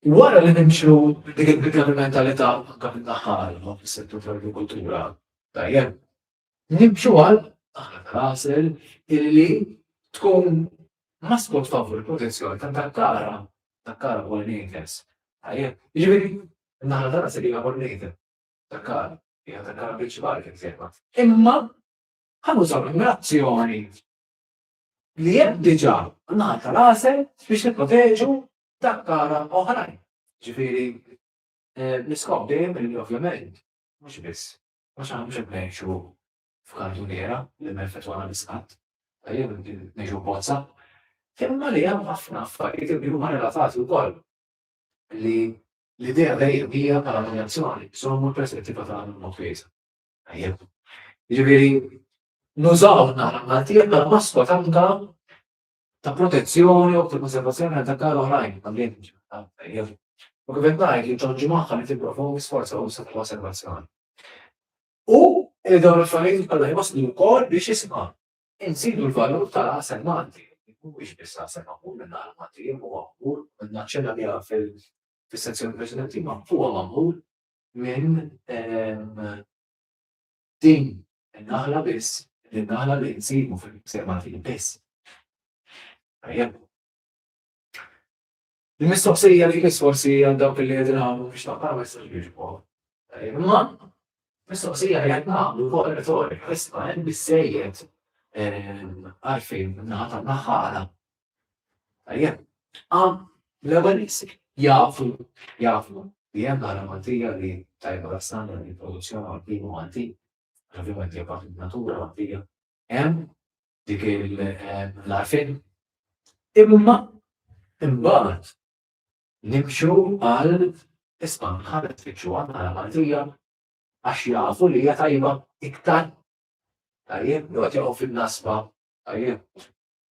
Wara li nimxu minn dik il-bidla fil-mentalità u anke minn naħa għal oħra fis-settur tal-agrikoltura, tajjeb, nimxu għal aħna tal-għasel illi tkun maskot favur il-protezzjoni ta' Dakkara, Dakkara pollinators. Tajjeb, jiġifieri naħa tal-għasel hija pollinator, Dakkara, hija Dakkara prinċipali kif sejħa. Imma ħanużaw l-azzjoni li hemm diġà naħa tal-għasel biex nipproteġu takkara oħrajn. Ġifieri, l-iskop dejjem li ovvjament mhux biss għax aħna mhux qed ngħixu f'kantuniera li ma jeffettwana biss qatt, jew ngħixu f'bozza, imma li hemm ħafna affarijiet li huma relatati wkoll li l-idea dejjem hija bħala dominazzjoni, żommu l-perspettiva tagħna b'mod wiesa'. Tajjeb. Jiġifieri, nużaw n-naħa Maltija bħala maskot anke ta' protezzjoni u ta' konservazzjoni għal dakkar oħrajn tal-ambjent ġenerali, u kif qed ngħid li ġġorr ġimgħa li tipprovoki sforz usa' ta' konservazzjoni. U li dawn l-affarijiet kollha jwasslu wkoll biex isma' inżidu l-valur tal-għasel Malti, li mhuwiex biss għasel magħmul min-naħa l-Maltija, imma huwa magħmul, u naċċenna biha fis-sezzjoni preċedenti, imma huwa magħmul minn Din in-naħla biss hi n-naħla li nsibu fil-Ħsieb Maltin biss. Tajjeb. Il-mistoqsija li jmiss forsi għal dawk li qegħdin hawn biex taqra ma jistax jiġbu. Imma mistoqsija li qed nagħmlu fuq retorika issa hemm bissejjed għalfejn naħa tan-naħala Tajjeb, għam l-ewwel isek jafu jafu li hemm għala Maltija li tajba l-standard li produzzjoni għal-binu Malti, ovvjament hija parti natura Maltija, hemm dik l-arfin. Imma imbagħad nimxu għal isma' ħadet fiċċu għal Maltija għax jafu li hija tajba iktar. Tajjeb, jgħod jaqgħu fin-nasba, tajjeb,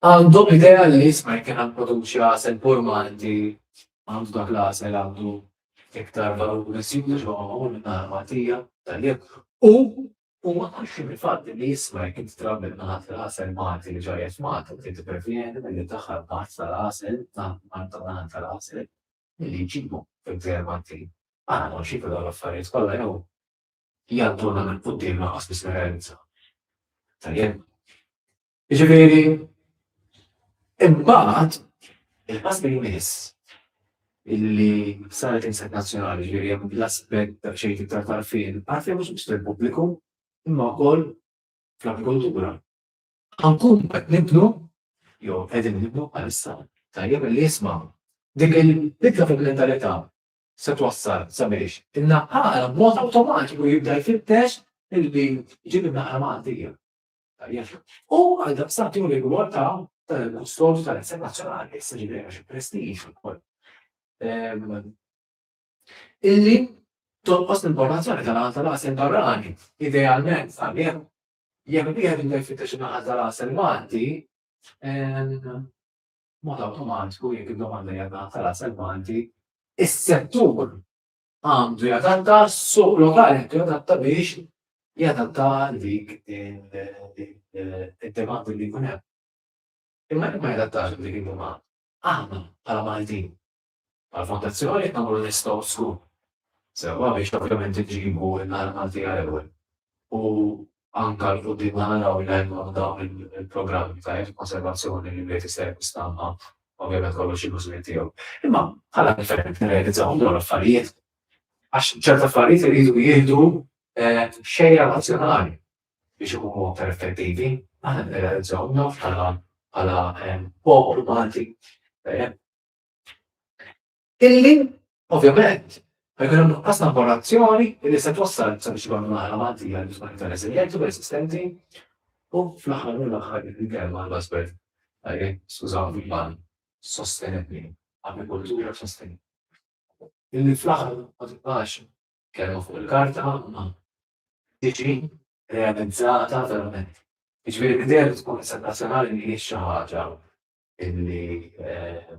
Għandhom l-idea li jisma' jekk jiena nipproduċi għasel pur Malti, għandu dak l-għasel għandu iktar valur miżjud għax huwa magħmul minn naħal Maltija, tajjeb. U huma konxji mill-fatt li jisma' jekk inti trabbi naħal tal-għasel Malti li ġejja f'Malta u trid tipprevjeni milli ddaħħal b'art tal-għasel ta' Malta u naħal tal-għasel milli jġibu fil-Gżejjer Maltin. Aħna konxji ta' dawn l-affarijiet kollha jew jgħadduna minn quddiem lanqas biss nirrealizzaw. Tajjeb. Ġifieri, imbagħad il-pass li jmiss illi saret insek nazzjonali ġifieri hemm l-aspett ta' xejn iktar tarfin, għarfien mhux biss fil-pubbliku, imma wkoll fl-agrikoltura. Ħankun qed nibnu jew qegħdin nibnu għalissa tajjeb li jisma' dik il-bidla fil-mentalità se twassal sabiex in-naħal b'mod awtomatiku jibda jfittex illi jġib in-naħal Maltija. U għaldaqstant jieħu l-irwol ta' kustodju tal-isem nazzjonali, issa ġifieri għax il-prestiġ ukoll. Illi tonqos l-importazzjoni tal-għan tal-għasel barrani, idealment għalih jekk wieħed jibda jfittex in-naħal tal-għasel Malti, mod awtomatiku jekk id-domanda hija naħal tal-għasel Malti, is-settur għandu jadatta, s-suq lokali għandu jadatta biex jadatta għal dik id-demand li jkun hemm. Imma jekk ma jadattax dik id-demand, aħna bħala Maltin, bħala fondazzjoni qed nagħmlu l-istgħu skur. Sewwa biex ovvjament iġibu n-naħa Maltija l-ewwel. u anke 'l quddiem ħa naraw li jkollna dawn il-programmi ta' konservazzjoni li wieħed jista' jakkwista imma ovvjament kollox ilu żmien tiegħu. Imma bħala gvern qed nirrealizzawhom dawn l-affarijiet għax ċerti affarijiet iridu jieħdu xejra nazzjonali biex ikunu aktar effettivi, aħna qed nirrealizzawhom dawn bħala bħala poplu Malti. Illi, ovvjament, ħajkun hemm nuqqas ta' informazzjoni illi se twassal sabiex ikun naħra Maltija li tkun iktar reżiljenti u resistenti u fl-aħħar u l-aħħar il-kelma l-basbert. Skużaw, fil-ban, sostenibli, agrikoltura sostenibli. Illi fl-aħħar ma tibqax kelma fuq il-karta ma tiġi realizzata verament. Iġveri l-idea li tkun internazzjonali li xi ħaġa illi eh,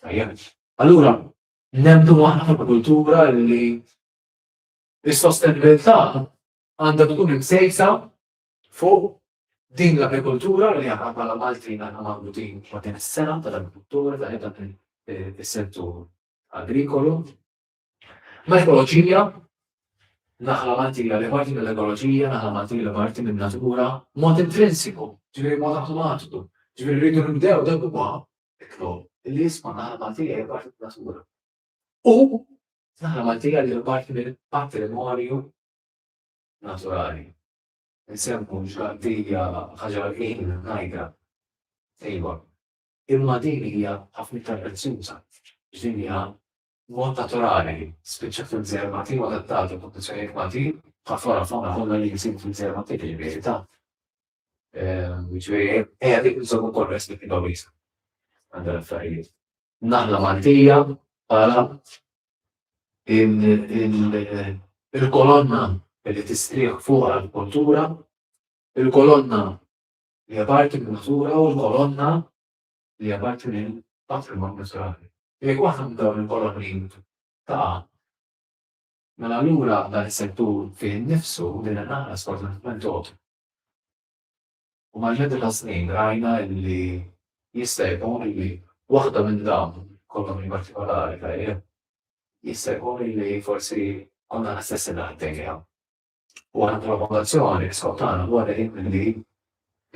Tajjeb. Allura, nemmnu aħna fil-kultura li s-sostenibilità għandha tkun imsejsa fuq din l-agrikultura li aħna bħala Maltin aħna marbutin ma' din is-sengħa tal-agrikultura ta' dan is-settur agrikolu. L-ekoloġija, naħla Maltija li parti mill-ekoloġija, naħla Maltija li parti min-natura, mod intrinsiku, ġifieri mod awtomatiku, ġifieri rridu nibdew dak huwa iktu li jisma' naħla Maltija li parti min-natura. U naħla Maltija li parti mill-patrimonju naturali. Nsemmu ġgħaddija ħaġa l-ħin ngħidha. Ejwa, imma din hija ħafna iktar prezzjuża, x'din hija B'mod naturali, spiċċa fil-Gżejjer Maltin u adattat għal kundizzjonijiet Maltin, bħal flora u fawna kollha li jinsibu fil-Gżejjer Maltin li l-bini tagħhom. Jiġifieri ejja dik inżommu wkoll perspettiva wiesgħa għal dan l-affarijiet. Naħla Maltija bħala il-kolonna li tistrieħ fuqha l-kultura, il-kolonna li hija parti min-natura u l-kolonna li apparti minn patrimonju naturali. Jekk waħda minn dawn il-kolonni taqa', mela allura dan is-settur fih innifsu, din in-naħla sfortunatament tgħob. U mal-medda tas-snin rajna li jista' jkun li waħda minn dawn il-kolonni partikolari, tajjeb, jista' jkun li forsi konna l-istess li għaddejja. U aħna bħala Fondazzjoni l-iskop tagħna huwa dejjem milli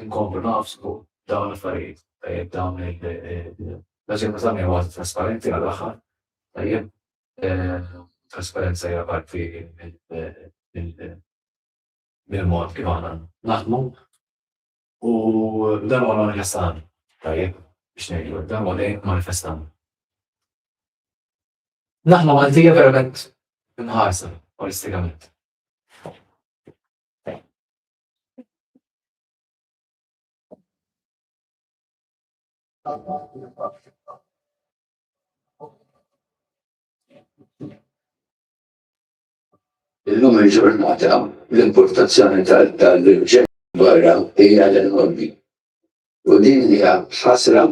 nkomplu nagħfsu dawn l-affarijiet, tajjeb dawn il-Nazzjoni Iżlamija huwa trasparenti għall-aħħar, tajjeb trasparenza hija parti mill-mod kif aħna naħdmu u dan huwa manifestan, tajjeb biex ngħidu hekk, dan huwa dejjem manifestan. Naħla Maltija verament imħarsa olistikament. Illum il-ġurnata l-importazzjoni tal-ġen barra hija l-enormi. U din hija ħasra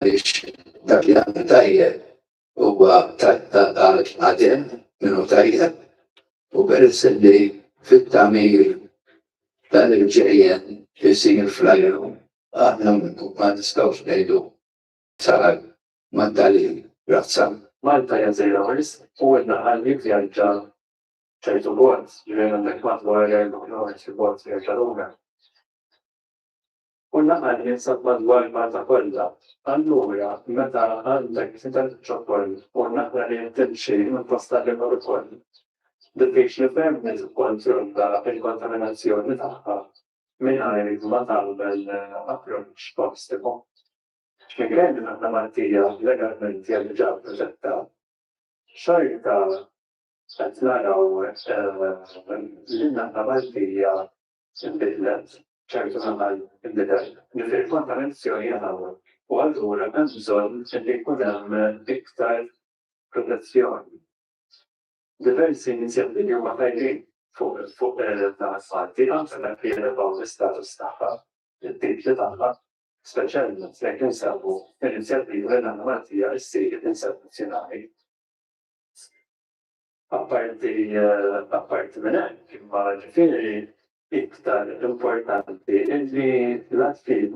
għaliex dak li għamel tajjeb huwa għal għadem minn hu tajjeb u peress li fit-tagħmir dan il-ġejjen isir fl-ajru aħna ma nistgħux ngħidu sar ma' dalil razza. Malta hija żejra wisq u għedna għal jivvjaġġa ċertu bord, ġifieri għandek madwar 4 ħames il-bord vjaġġa lura. u l-laqa jinsab madwar il-Malta kollha. Allura meta għandek titgħallem iċ-ċokon u naqra li qed timxi minn post għal ieħor ukoll, diffiċli ferm li tikkontrolla l-kontaminazzjoni tagħha mingħajr ma tagħmel approċċ ostiku. Minkejja li aħna Maltija legalment hija diġà protetta, xorta qed naraw li n-naħa Maltija Inbidlet, ċertu żmien inbidel, li fil-kontaminazzjoni hemm ammonju u allura hemm bżonn li jkun hemm iktar protezzjoni. Diversi inizjattivi huma tajbin fuq dan il-fatt, din anke dak li jelevaw l-istatus tagħha, it-titli tagħha, speċjalment jekk insemmu inizjattiva li l-anomalija ssir insettizjonali. Apparti apparti minn hekk, imma ġifieri iktar importanti illi l-Att fil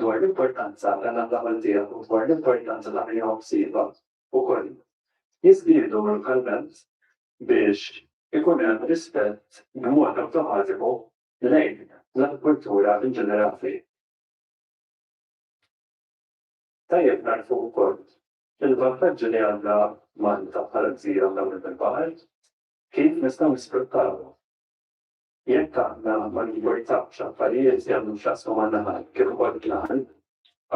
dwar l-importanza ta' dan l-għamal tiegħu u dwar l-importanza ta' min hu msiba wkoll jiżdiedu lokalment biex ikun hemm rispett b'mod awtomatiku lejn l-agrikultura in ġenerali. Tajjeb nagħrfu wkoll Il-vantaġġi li għandha Malta bħala gżira mdawwra bil-baħar, kif nistgħu nisfruttawhom? Jekk aħna ma nimportawx affarijiet li għandhom x'jaqsmu man-naħal kif ukoll il-klawm,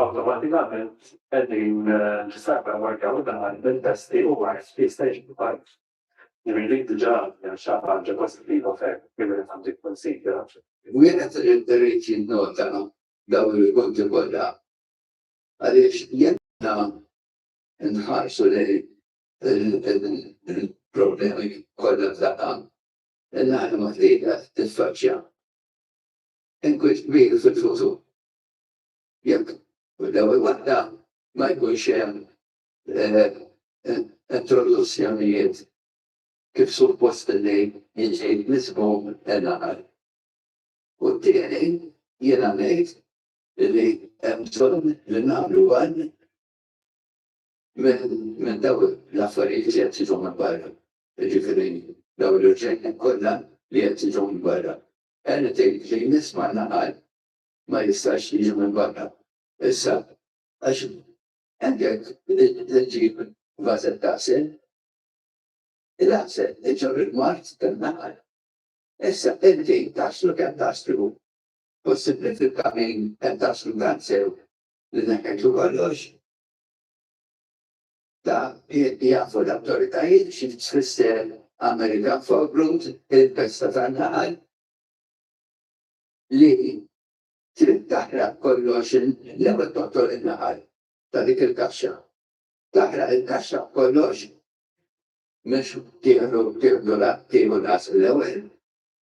awtomatikament qegħdin nissalvagwardjaw in-naħal minn pesti u mard li jista' jiġi mill-baħar. Ġifieri dik diġà hija xi ħaġa pożittiva ferm li wieħed għandu jikkunsidra. Wieħed irid jinnota dawn il-punti kollha Għaliex jekk aħna nħarsu lejn il-problemi kollha f'daqqa, l-anima tlieta titfaċċja. Inkwiet kbir fil-futur. Jekk l-ewwel waħda ma jkunx hemm introduzzjonijiet kif suppost li jiġi miżmum l-għaqal. U t-tieni jiena ngħid li hemm bżonn li nagħmlu għan minn dawn l-affarijiet li qed jiġu minn barra, jiġifieri dawn l-irġejjin kollha li qed jiġu minn barra. Anything clean smajna qal ma jistax jiġi minn barra. Issa għax għandek li ġġib vażel tagħsel, il-għasel iġorr il-mard tan-naħal. Issa inti taħslu kemm taħslu possibbli fil-kamin hemm daqs kultant sew li neħħejtu kollox. Ta' jafu l-awtoritajiet xi tfisser American Forbrood, il-pesta tan-naħal, li trid taħraq kollox l-ewwel toqtol in-naħal ta' dik il-kaxxa. Taħraq il-kaxxa kollox mhux tieħdu tieħdu tieħu l-ewwel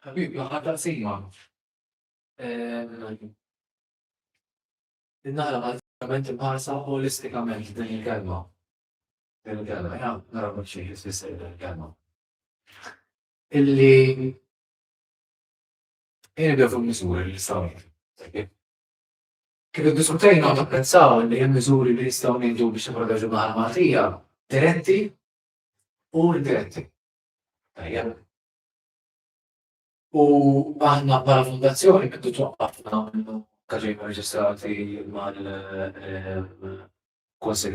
Ħabib, l-aħħar taqsima. Nara għal-ġament imħarsa holistikament din il-kelma. Din il-kelma, ja, nara mħiċi jisfisser din il-kelma. Illi jien bdew fuq miżuri li sawt. Kif diskutejna u pensaw li hemm miżuri li jistgħu ngħidu biex nipproteġu l-Maltija diretti u l-Greti. Tajjeb. U aħna bħala fondazzjoni għeddu twaqqafna minnu kaġin reġistrati mal-Konsil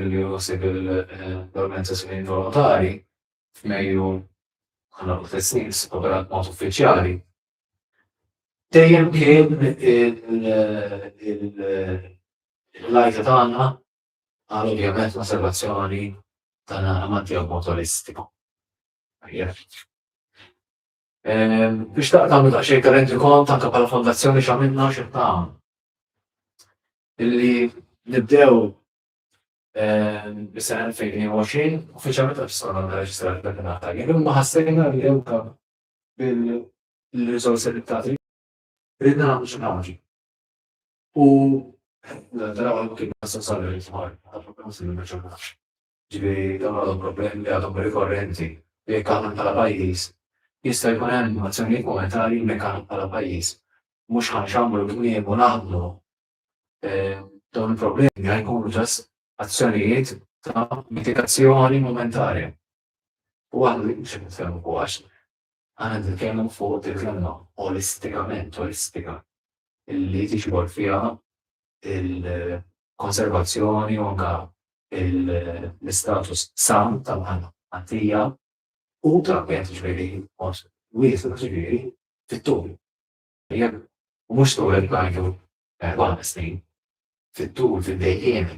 li josib l-organizzazzjoni volontari f'Mejju għana u t-tessin s-operat mod uffiċjali. Dejjem kien il-lajta tagħna Għal ovvjament l-osservazzjoni ta' amanti jew motoristi. Biex ta' tagħmlu daqsxejn ta' rendi kont anke bħala fondazzjoni x'għamilna xi tagħmlu. Illi nibdew bis-sena 2020 uffiċjalment qed tiskonna nirreġistraw il-Kampjonat Taljan. Imma ħassejna li anke bil-riżorsi li tagħti ridna nagħmlu xi ħaġa. U taraw anki b'massa salari tmar, għadhom b'massa li ma ġurnafx. Ġifieri dawn għadhom problemi li għadhom rikorrenti li jekk aħna bħala pajjiż jista' jkun hemm azzjonijiet monetarji li jekk aħna bħala pajjiż mhux ħa nxammru l-kmiem u naħdmu dawn il-problemi ħa jkunu ġas azzjonijiet ta' mitigazzjoni momentarja. U aħna li mhux qed nitkellmu fuq għax Aħna qed nitkellmu fuq dik l-għalma olistikament, olistika, li tiġbor fiha il-konservazzjoni u anke l-istatus san tal-għalma għaddejja u trabbija tiġbiri mod wiesa tiġbiri fit-tul. Jekk mhux tul qed ngħidu erba' snin, fit-tul fid-dejjiemi.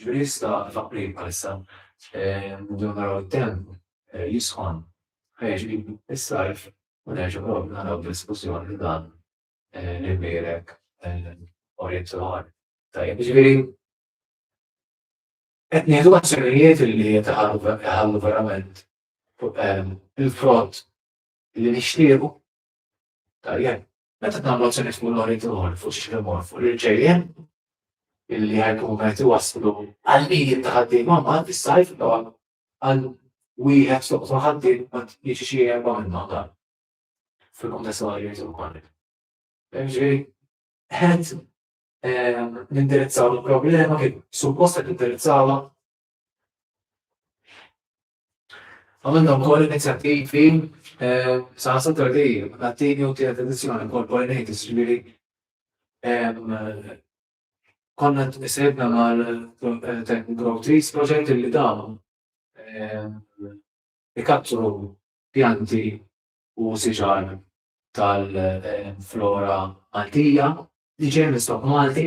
Ġifieri issa f'April bħalissa nibdew naraw it-temp jisħon ħa jiġi s-sajf u nerġgħu naraw diskussjoni li dan l-imbierek orientar tajjeb. Ġifieri qed nieħdu azzjonijiet li qed iħallu verament il-frott li nixtiequ tajjeb Meta tagħmlu azzjonijiet fuq l-oritur, fuq xiex imur, fuq l-irġejjen, illi ħajkunu qed iwasslu għal mijiet ta' ħaddiema mbagħad fis-sajf dawn għal wieħed soqtu ħaddiem ma jiġi xi erba' minnhom dan fil-kuntest tal-għajjiet ukoll. Ġifieri ħed ehm, nindirizzaw il-problema kif suppost qed nindirizzawha Għamilna wkoll inizjattivi eh, sa' Saturday, għattini u tiegħek edizzjoni wkoll Pollinators, ġifieri konna t-nisibna mal-Tech eh, Grow Trees proġett li dawn ikattru pjanti u siġar tal-flora Maltija li ġej minn Malti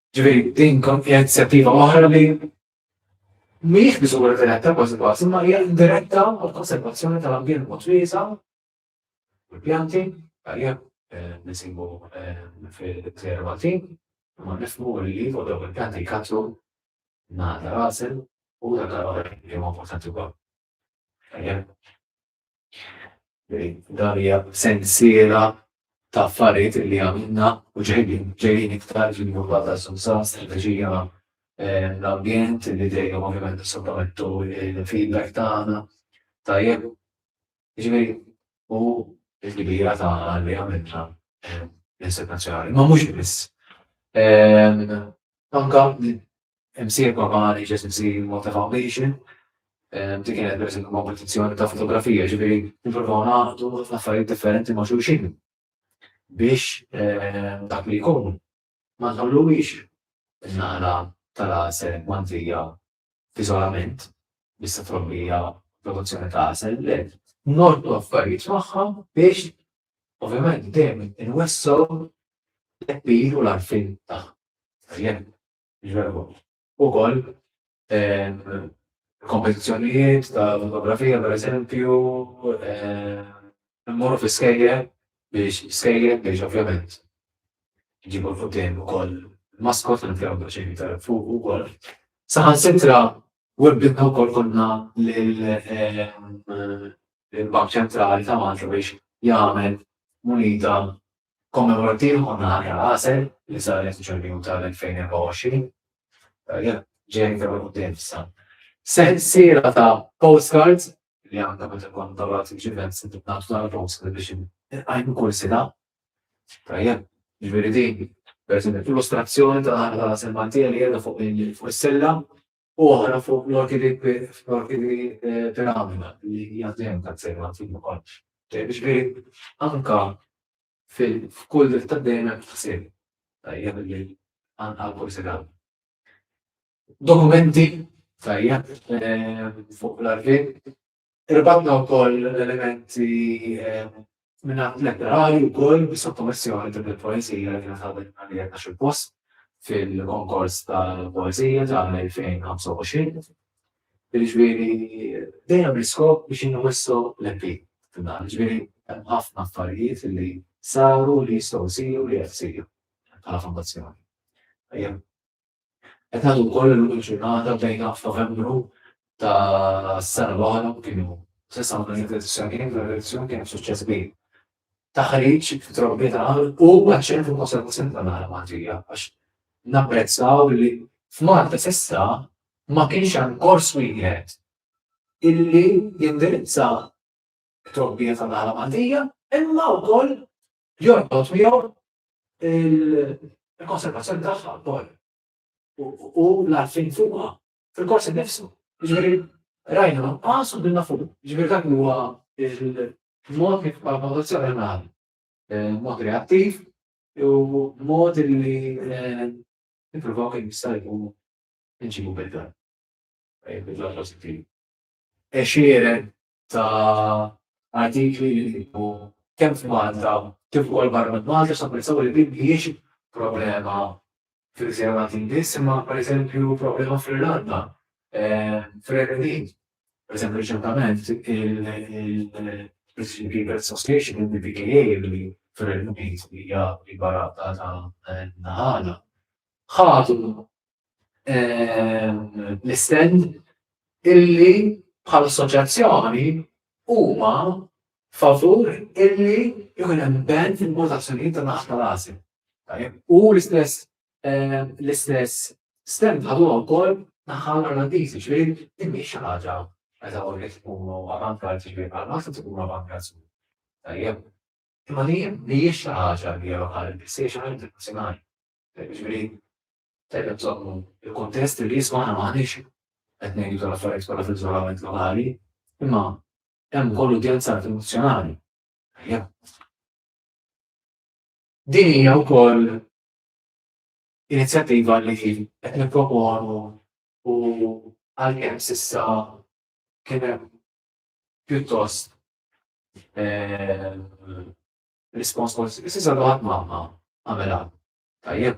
Ġifieri din kont inizjattiva oħra li mhijiex miżura diretta kważi kważi, imma hija indiretta għall-konservazzjoni tal-ambjent mod wiesa' u l-pjanti għalija eh, nisibu eh, fil-gżejjer Maltin, imma nifhmu li fuq dawk il-pjanti jkatru nagħta rasel u dak għal li huma importanti wkoll. Dan hija sensiela ta' affarijiet li għamilna u ġejjin iktar ġejjin jumma ta' susa, strategija l-ambjent li dejjem ovvjament sottomettu il-feedback tagħna. Tajjeb, ġifieri u l-kbira ta' li għamilna l-insepazzjonali. Ma mhux biss. Anka Imsieħeb globali ġeżiżi Malta Foundation, dik kienet per eżempju kompetizzjoni ta' fotografija, ġifieri nippruvaw naqdu ħafna affarijiet differenti ma' xulxin biex ehm, dak li jkun ma nħalluwix nara tal-għasel mandija f'iżolament bissa trobbija produzzjoni ta' għasel le nordu affarijiet magħha biex ovvjament dejjem inwessaw l-eppir u l-arfin tagħha. Ukoll kompetizzjonijiet ta' fotografija pereżempju, immorru fi skejjel biex skejjel biex ovvjament iġibu l-quddiem ukoll maskot li nfjahom daqsxejn iktar fuq ukoll. Saħansitra wibbilna wkoll konna lill-Bank Ċentrali ta' Malta biex jagħmel munita Kommemorattiv Anna Ħamra Għasel li saret f'Ġunju tal-2024, ġejja iktar 'il quddiem issa. Sensiela ta' postcards li anke meta nkunu tawlat f'events intom tagħtu dan il-postcard biex inqajmu kull sena. Tajjeb, jiġifieri din, pereżempju, illustrazzjoni ta' Anna Ħamra Għasel Maltija li qiegħda fuq is-silla u oħra fuq l-orti di fl-orti di Piramida li hija dejjem ta' ksejra antik ukoll. Ġifieri anka f'kull dritt ta' dejn hemm ħsieb tajjeb li għal kull sigħat. Dokumenti tajjeb fuq l-arkiv Irbatna wkoll l-elementi minnat letterali wkoll bi sottomissjoni din il-poeżija li nħabet għalija ta' xi post fil-konkors tal-poeżija tal-2025. Ġifieri dejjem l-iskop biex inwissu l-MP f'dan. Ġifieri hemm ħafna affarijiet li saru li jistgħu jsiru li qed isiru bħala fondazzjoni. Qed ngħidu wkoll illum il-ġurnata bdejna f'Novembru tas-sena l-oħra u kienu sissa ma kienx l-elezzjonijiet, l-elezzjoni kienet suċċess kbir. Taħriġ fit-trobbiet għal u għaċ-ċentru ta' konservazzjoni tan-naħla Maltija għax napprezzaw li f'Malta s'issa ma kienx hemm kors wieħed illi jindirizza t-trobbija tan-naħla Maltija imma wkoll jorbot miegħu il-konservazzjoni tagħha wkoll u l-għarfien fuqha fil-kors innifsu. Ġifieri rajna nuqqas u dinna fuq. Ġifieri dak huwa il-mod kif valutazzjoni nagħmel eh, mod reattiv u mod li eh, nippruvaw kien jista' jkun nġibu bidla. Eh, bidla pożittiv. Exieren ta' artikli li jkunu kemm f'Malta kif ukoll barra minn Malta x'napprezzaw li din mhijiex problema fil-Gżejjer Maltin biss imma pereżempju problema fl-Irlanda, fir-Renju Unit. Pereżempju riċentament il-British People Association, il-BPKA li fir-Renju Unit hija l-kbar għaqda ta' naħalha, ħadu l-istend illi bħal assoċjazzjoni huma favur illi jkun hemm band fil-votazzjonijiet ta' naħta l-għażi. U l-istess eh, l-istess stand ħadu wkoll naħa l-Irlandiżi, ġifieri din mhix xi ħaġa meta u li tkunu avantgard ġifieri bħal massa tkunu avantgard. Tajjeb. Imma li mhijiex xi ħaġa li hija lokali, se xi ħaġa internazzjonali. Ġifieri Tajjeb inżommu l-kuntest li jisma' aħna m'aħniex qed ngħidu tal-affarijiet kollha fl-iżolament lokali, imma hemm ukoll udjenza internazzjonali. Tajjeb. Din hija wkoll inizjattiva li qed nipproponu u għalkemm s'issa kien hemm pjuttost rispons pożittiv, s'issa ħadd ma għamel tajjeb.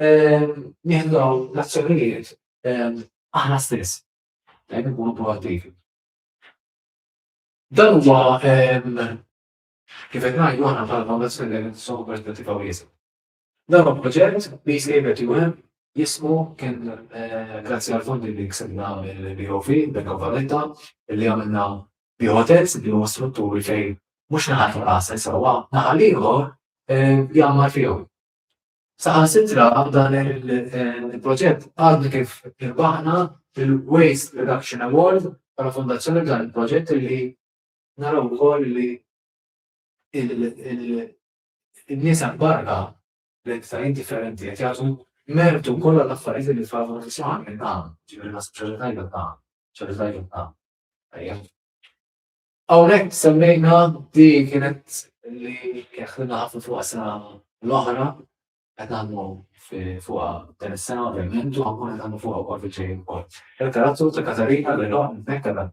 nieħdu dawn l-azzjonijiet aħna stess, dejjem ikunu proattivi. Dan huwa kif qed ngħidu aħna bħala fondazzjoni dejjem nisogħu perspettiva wiesa'. Dan huwa proġett li jsejbet juhem jismu kien grazzi għal fondi li ksibna mill-BOV, Bank of Valletta, li għamilna bihotels li huma strutturi fejn mhux naħat rasa jsewwa, naħal ieħor jgħammar fihom. Saħansitra dan il-proġett għadna kif irbaħna il-Waste Reduction Award bħala fondazzjoni f'dan il-proġett li naraw ukoll li n-nies hemm barra l-entitajiet differenti qed jagħtu mertu kollha l-affarijiet li tfal ma tisma' minn hawn, ġifieri naħseb xi ħaġa tajba ta' xi ħaġa tajba ta' tajjeb. Hawnhekk semmejna di kienet li ħdimna ħafna fuqha sena l-oħra qed nagħmlu fuqha din is-sena ovvjament u ankun qed nagħmlu fuqha wkoll fil-ġejjin ukoll. Il-karazzu ta' Katarina li lhom nfekkarha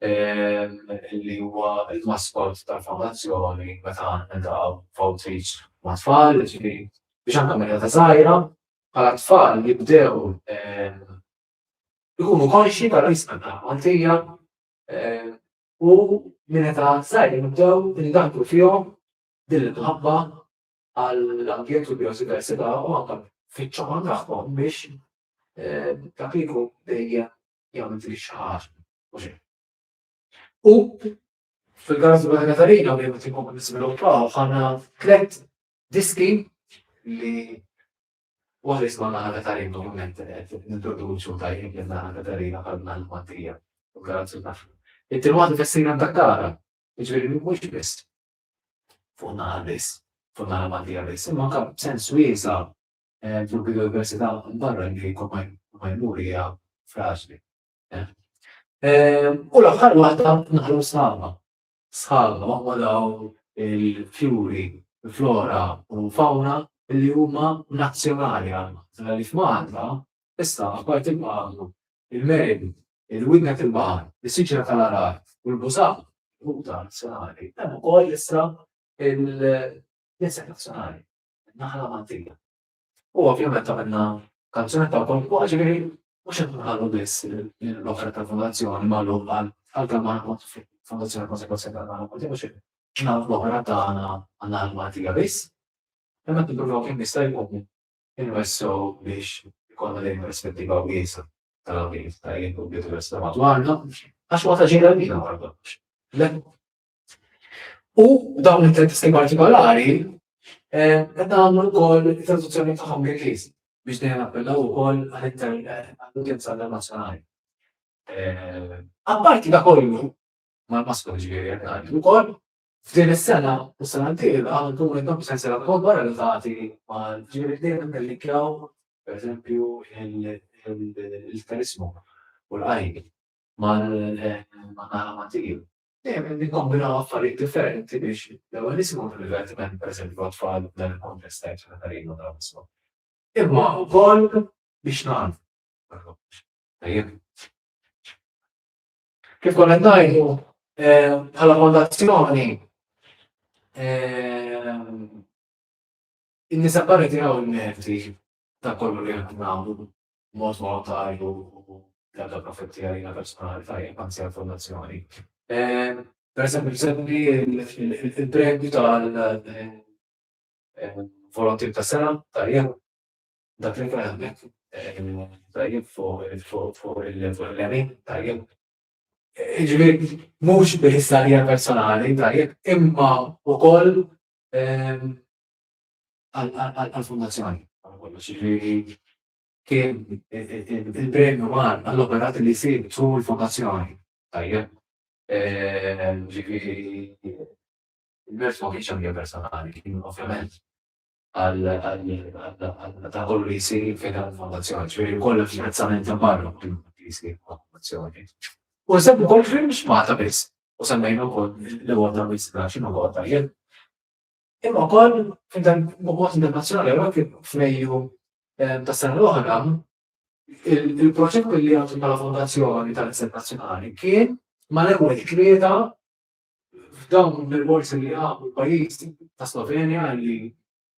li huwa l-maskot tal-fondazzjoni meta niltaqgħu f'outreach ma' tfal, ġifieri biex anke meta ta' żgħira bħala tfal jibdew ikunu konxji tal-isqan tal-Maltija U minn età żgħira nibdew indaħħlu fihom din l-imħabba għall-ambjent u l-bijodiversità u anke fiċ-ċama tagħhom biex dak li jkun dejjem jagħmel dik xi ħaġa u xejn. U fil-każ ta' Katarina li qed inkomplu niżviluppaw ħana tliet diski li Waqt li skont Anna Katarina normalment qed nintroduċu tajjeb lil Anna Katarina bħal bnha l-Mattia u Karazzu taf. It-tieni waħda tessina mdakkara, jiġifieri mhux biss fuq in-naħa biss, fuq in-naħa Maltija biss, imma anke b'sens wiesa' fil-biodiversità barra li jkun ma jmur hija fraġli. U l-aħħar waħda naħlu s-sħaba. sħabha ma' dawn il-fjuri, flora u fawna li huma nazzjonali għal Malta. Għaliex Malta issa apparti l-magħmul, il-meridu, il-widna tal-baħar, is-siġra tal-għargħar u l-bużaq, il-ħuta nazzjonali, hemm ukoll issa il-knisja nazzjonali, in-naħla Maltija. U ovvjament għamilna kanzunetta wkoll fuqha, ġifieri mhux qed nħallu biss l-offerta tal-fondazzjoni magħluqa għalkemm ma nkunx fondazzjoni konsegwenza tagħna u din mhux ġnab l-oħra tagħna għandna l-Maltija biss. Imma qed nippruvaw kemm jista' jkun inwessgħu biex ikollna din perspettiva wiesa' tal-għawdiet ta' jien u bdiet università madwarna għax huwa ta' ġejja lina wara kollox. U dawn it-testi partikolari eh, qed nagħmlu wkoll it-traduzzjoni tagħhom bil-Ingliż biex dejjem appellaw ukoll għall-udjenza internazzjonali. Eh, apparti da kollu, mal-maskol ġifieri qed ngħidu wkoll, f'din is-sena u s-sena d-dieħla nkunu qed nagħmlu sensiela wkoll barra li tagħti mal ġifieri dejjem nillinkjaw pereżempju il-karismu u l-qajn mal-naħa eh, Dejjem nikkombinaw affarijiet differenti biex l-ewwel nisimgħu d-divertiment, pereżempju għat-tfal f'dan il-kuntest ta' Iċ-Ċena ta' Rino ta' Wisma, imma wkoll biex nagħlmu wara kollox. Tajjeb? Kif konna qed ngħidu, bħala fondazzjoni, in-nisa barra jtiraw il-merti Dak kollu li aħna nagħmlu b'mod volontarju u bl-ebda profitt li għalina personali tajjeb, anzi għall-Fondazzjoni. Pereżempju, nsemmi l-premju tal-Volontier tas-Sena, tajjeb, dak li kien hemmhekk, tajjeb, fuq il-lemin, tajjeb. Jiġifieri mhux biss għalija personali, tajjeb, imma wkoll għall-Fondazzjoni wara kollox. Jiġifieri kien il-premju mar għall-operat li jsir tul il-Fondazzjoni. Tajjeb. Jiġifieri il-mers ma kienx għal-mija personali, kien ovvjament għal dak kollu li jsir fejn hemm il-Fondazzjoni. Jiġifieri wkoll hemm xi apprezzament minn barra minn dak li jsir mal-Fondazzjoni. U nsemmu wkoll li mhux Malta biss, u semmejna wkoll li Malta biss, x'inhu l-għodda, Imma wkoll b'mod internazzjonali hawnhekk f'Mejju eh, tas-sena l-oħra il-proġett li għandu bħala fondazzjoni tal-Istat Nazzjonali kien mal-ewwel tlieta f'dawn il-borsi li għabu pajjiż ta' Slovenja li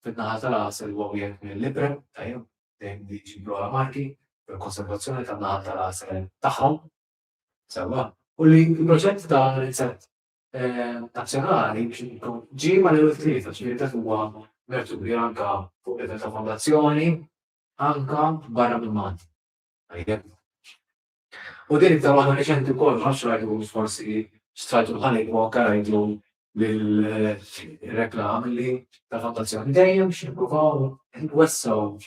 fid-naħa tal-għasel huwa wieħed mill-libra tajjeb dejjem li ġibru marki fil-konservazzjoni tan-naħa tal-għasel tagħhom. Sewa, u li l-proġett ta' l-inset nazzjonali biex ikun ġie ma' level tlieta, ġifieri dak huwa merturi anke fuq level ta' fondazzjoni, anke barra minn Malta. Tajjeb. U din ta' waħda reċenti wkoll ma nafx rajtu forsi strajtu bħalik u anke rajtu bil-reklam li ta' fondazzjoni dejjem biex nippruvaw nwessaw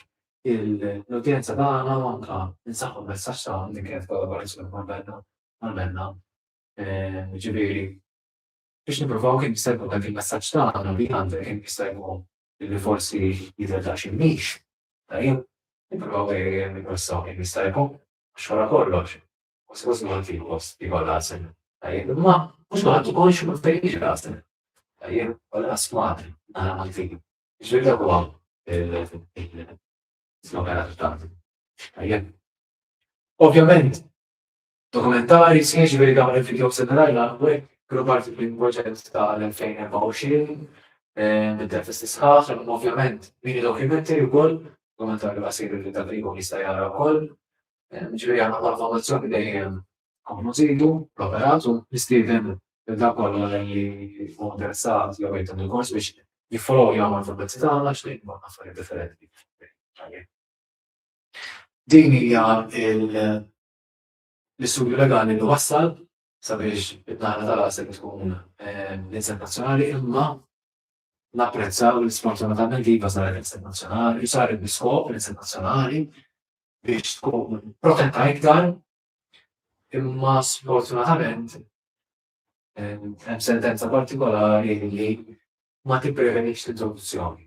l-udjenza tagħna u anke nsaħħu l-messaġġ tagħna li kienet kollaborazzjoni ma' Benna għal Benna jiġifieri biex nippruvaw kemm jista' jkun dak il-messaġġ tagħna li għandna kemm jista' jkun li forsi jidher daqsxejn mhix tajjeb, nippruvaw nippressaw kemm jista' jkun għax wara kollox kważi kważi kulħadd irid post li jkollha għasel tajjeb imma mhux kulħadd ukoll jixtieq fejn jiġi l-għasel tajjeb u lanqas Malti naħa Maltin. Jiġifieri dak huwa l-islogan adottat. Tajjeb. Ovvjament Dokumentari, sħiħ, jiġifieri dawn il-vidjows li rajna hawnhekk kienu parti minn proġett tal-2024 mid-dentisti sħaħ, imma ovvjament mini documentary wkoll, dokumentarju qasir li dak li jkun jista' jara wkoll. Jiġifieri aħna bħala fondazzjoni dejjem nkomplu nżidu l-operat u nistieden lil dak kollha li jkun interessat jew jrid għandu kors biex jiffollow jagħmel fil-mezzi tagħna għax dejjem ikun affarijiet differenti. Din hija l-istudju legali li wassal sabiex id-dahra tal-għasel tkun l-inset nazzjonali imma napprezzaw li sfortunatament iva saret l-inset nazzjonali, saret biskop l-inset nazzjonali biex tkun protetta iktar imma sfortunatament hemm sentenza partikolari li ma tipprevenix l-introduzzjoni.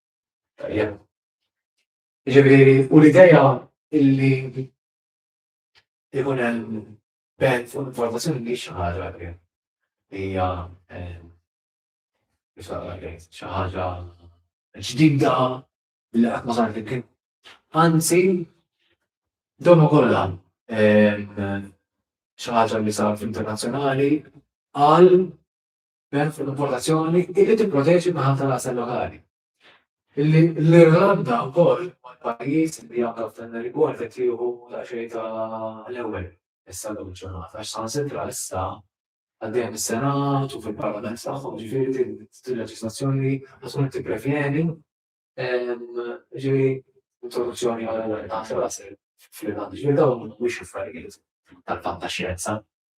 Ġifieri, u l-idea illi ikun hemm ben fuq informazzjoni mhix xi ħaġa li hija xi ħaġa ġdida li qatt ma saret kien. Anzi, donu kollha xi ħaġa li saret internazzjonali għal b'hekk fuq importazzjoni illi tipproteġi n-naħa tal-għasel lokali. Illi l-Irlanda wkoll huwa l-pajjiż li anke f'dan ir-rigward qed jieħu daqsxejn ta' l-ewwel issa llum il-ġurnata għax saħansitra issa għaddejja mis-Senat u fil-Parlament tagħhom jiġifieri din il-leġiżlazzjoni qed tkun qed tipprevjeni jiġifieri introduzzjoni għal-għasel fl-Irlanda. Jiġifieri dawn mhumiex affarijiet tal-fantaxjenza.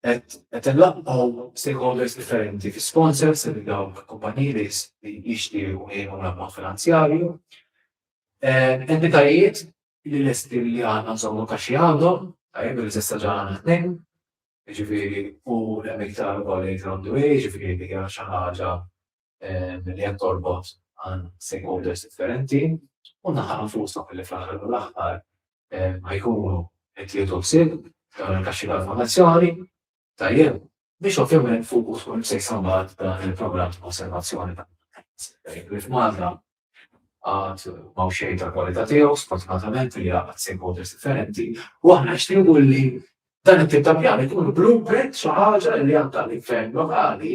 qed inlaqgħu stakeholders differenti fi sponsors li dawk kumpaniji li jixtiequ jgħinu l-ammont finanzjarju. Entitajiet li lesti li għandna nżommu kaxxi għandhom, tajjeb li s'issa ġa għandna tnejn, jiġifieri u hemm iktar ukoll li jitgħoddu, jiġifieri li hija xi ħaġa li qed torbot għal stakeholders differenti u naħa nfusna li fl-aħħar mill-aħħar ħajkunu qed jieħdu ħsieb dawn il-kaxxi ta' informazzjoni tajjeb biex ovvjament fuq u tkun se jsambat dan il-programm ta' osservazzjoni ta' li f'Malta għad ma' xejn ta' kwalità tiegħu sfortunatament li għad stakeholders differenti u aħna nixtiequ li dan it-tip ta' pjan ikun blueprint xi ħaġa li għandha l-gvern lokali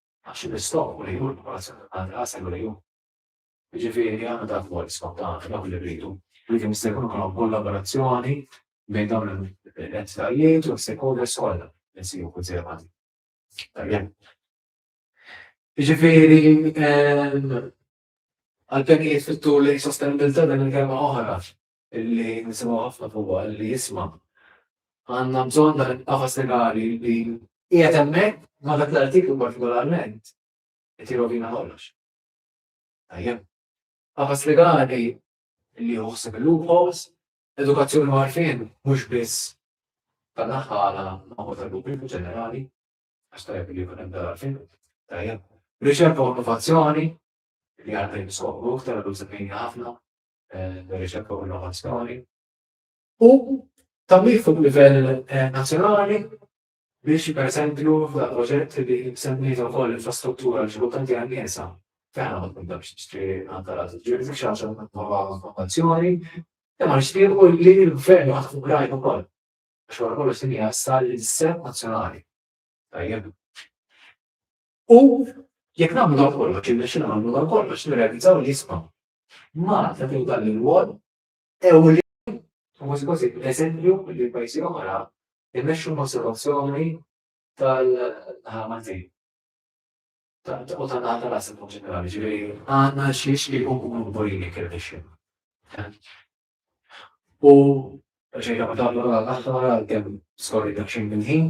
Għax il-istokk u l-għejun ma għadx għand rasek u l-għejun. Jiġifieri għandna ta' vojt skont dan, dawk li rridu. Rridu jista' jkun ukoll hawn kollaborazzjoni bejn dawn l-entitajiet u l-stakeholders kollha li nsibu kunsiderabbli. Tajjeb. Jiġifieri għall-pjanijiet fit-tul lejn sostenibilità din il-kelma oħra li nisimgħu ħafna fuqha li jisma'. Għandna bżonn dan il-qafas legali li qiegħed hemmhekk ma' dak l-artiklu partikolarment qed jirrovina kollox. Tajjeb. Qafas legali li joħseb il-loopholes, edukazzjoni għarfien mhux biss tal-aħħala ma' ħu tal-pubbliku ġenerali, għax tajjeb li jkun hemm dal-għarfien. Tajjeb. Riċerka u innovazzjoni li għandna jimsokru iktar għadu semmejni ħafna riċerka u innovazzjoni u tagħmir fuq livell nazzjonali biex pereżempju f'dak proġett li semmejt ukoll infrastruttura li xogħol tanti għal niesa f'għana ma tkunx tixtri għandha la tiġri f'xi ħaġa nova innovazzjoni imma nixtiequ li l-gvern jaħdmu grajn ukoll għax wara kollox din hija issa l-isem nazzjonali. Tajjeb. U jekk nagħmlu dan kollox, irnexxilna nagħmlu dan kollox, nirrealizzaw li jisma' Malta fil dan il-wol ewli u kważi kważi eżempju li pajjiżi oħra jmexxu l-konservazzjoni tal-ħamaltin. U ta' naħta l-asset ġenerali, ġifieri għandna xiex li nkunu kburini kif nixxin. U xejn ta' meta għal-aħħar għal-kemm skorri dak xejn minn ħin,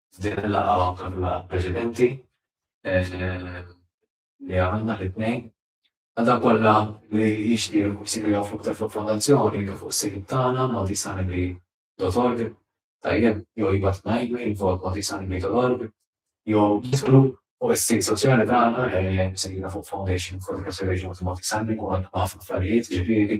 F'din il-laqgħa għamilna preċedenti li għamilna l-itnejn, għal dawk kollha li jixtiequ jsiru jafu aktar fuq il-Fondazzjoni jew fuq is-sit tagħna maltisanibli.org, tajjeb jew jibgħatulna email info at maltisanibli.org jew jidħlu fuq is-sit soċjali tagħna msejħa fuq Foundation for the Preservation of the Maltisanibli u għandna ħafna affarijiet ġifieri.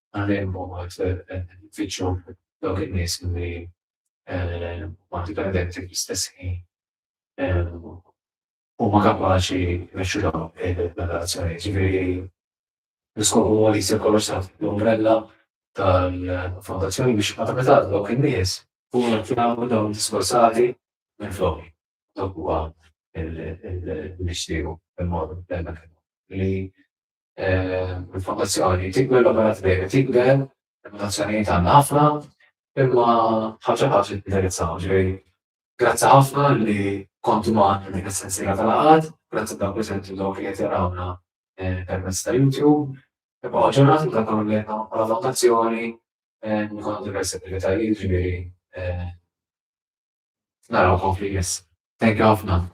Għalhekk huma jfittxu dawk in-nies li huma dipendenti fl-istess ħin u huma kapaċi jmexxu dawn ir-relazzjonijiet. Jiġifieri l-iskop huwa li jsir kollox taħt l-umbrella tal-fondazzjoni biex meta jingħata lil dawk in-nies ikunu qed jagħmlu dawn id-diskorsati minflok. Dak huwa l-mixtiequ, il-motto, li il-fondazzjoni tikber, l-operat dejjem tikber, il-fondazzjonijiet għandna ħafna, imma ħaġa ħaġa indirizzaw ġej. Grazzi ħafna li kontu maħna dik is-sensira tal-għad, grazzi dawk li sentu dawk li qed jarawna eh, permezz ta' YouTube, imma ġurnati ta' dawn li għandna bħala fondazzjoni eh, nkunu diversi attivitajiet ġifieri eh, naraw konfli jess. Thank you ħafna.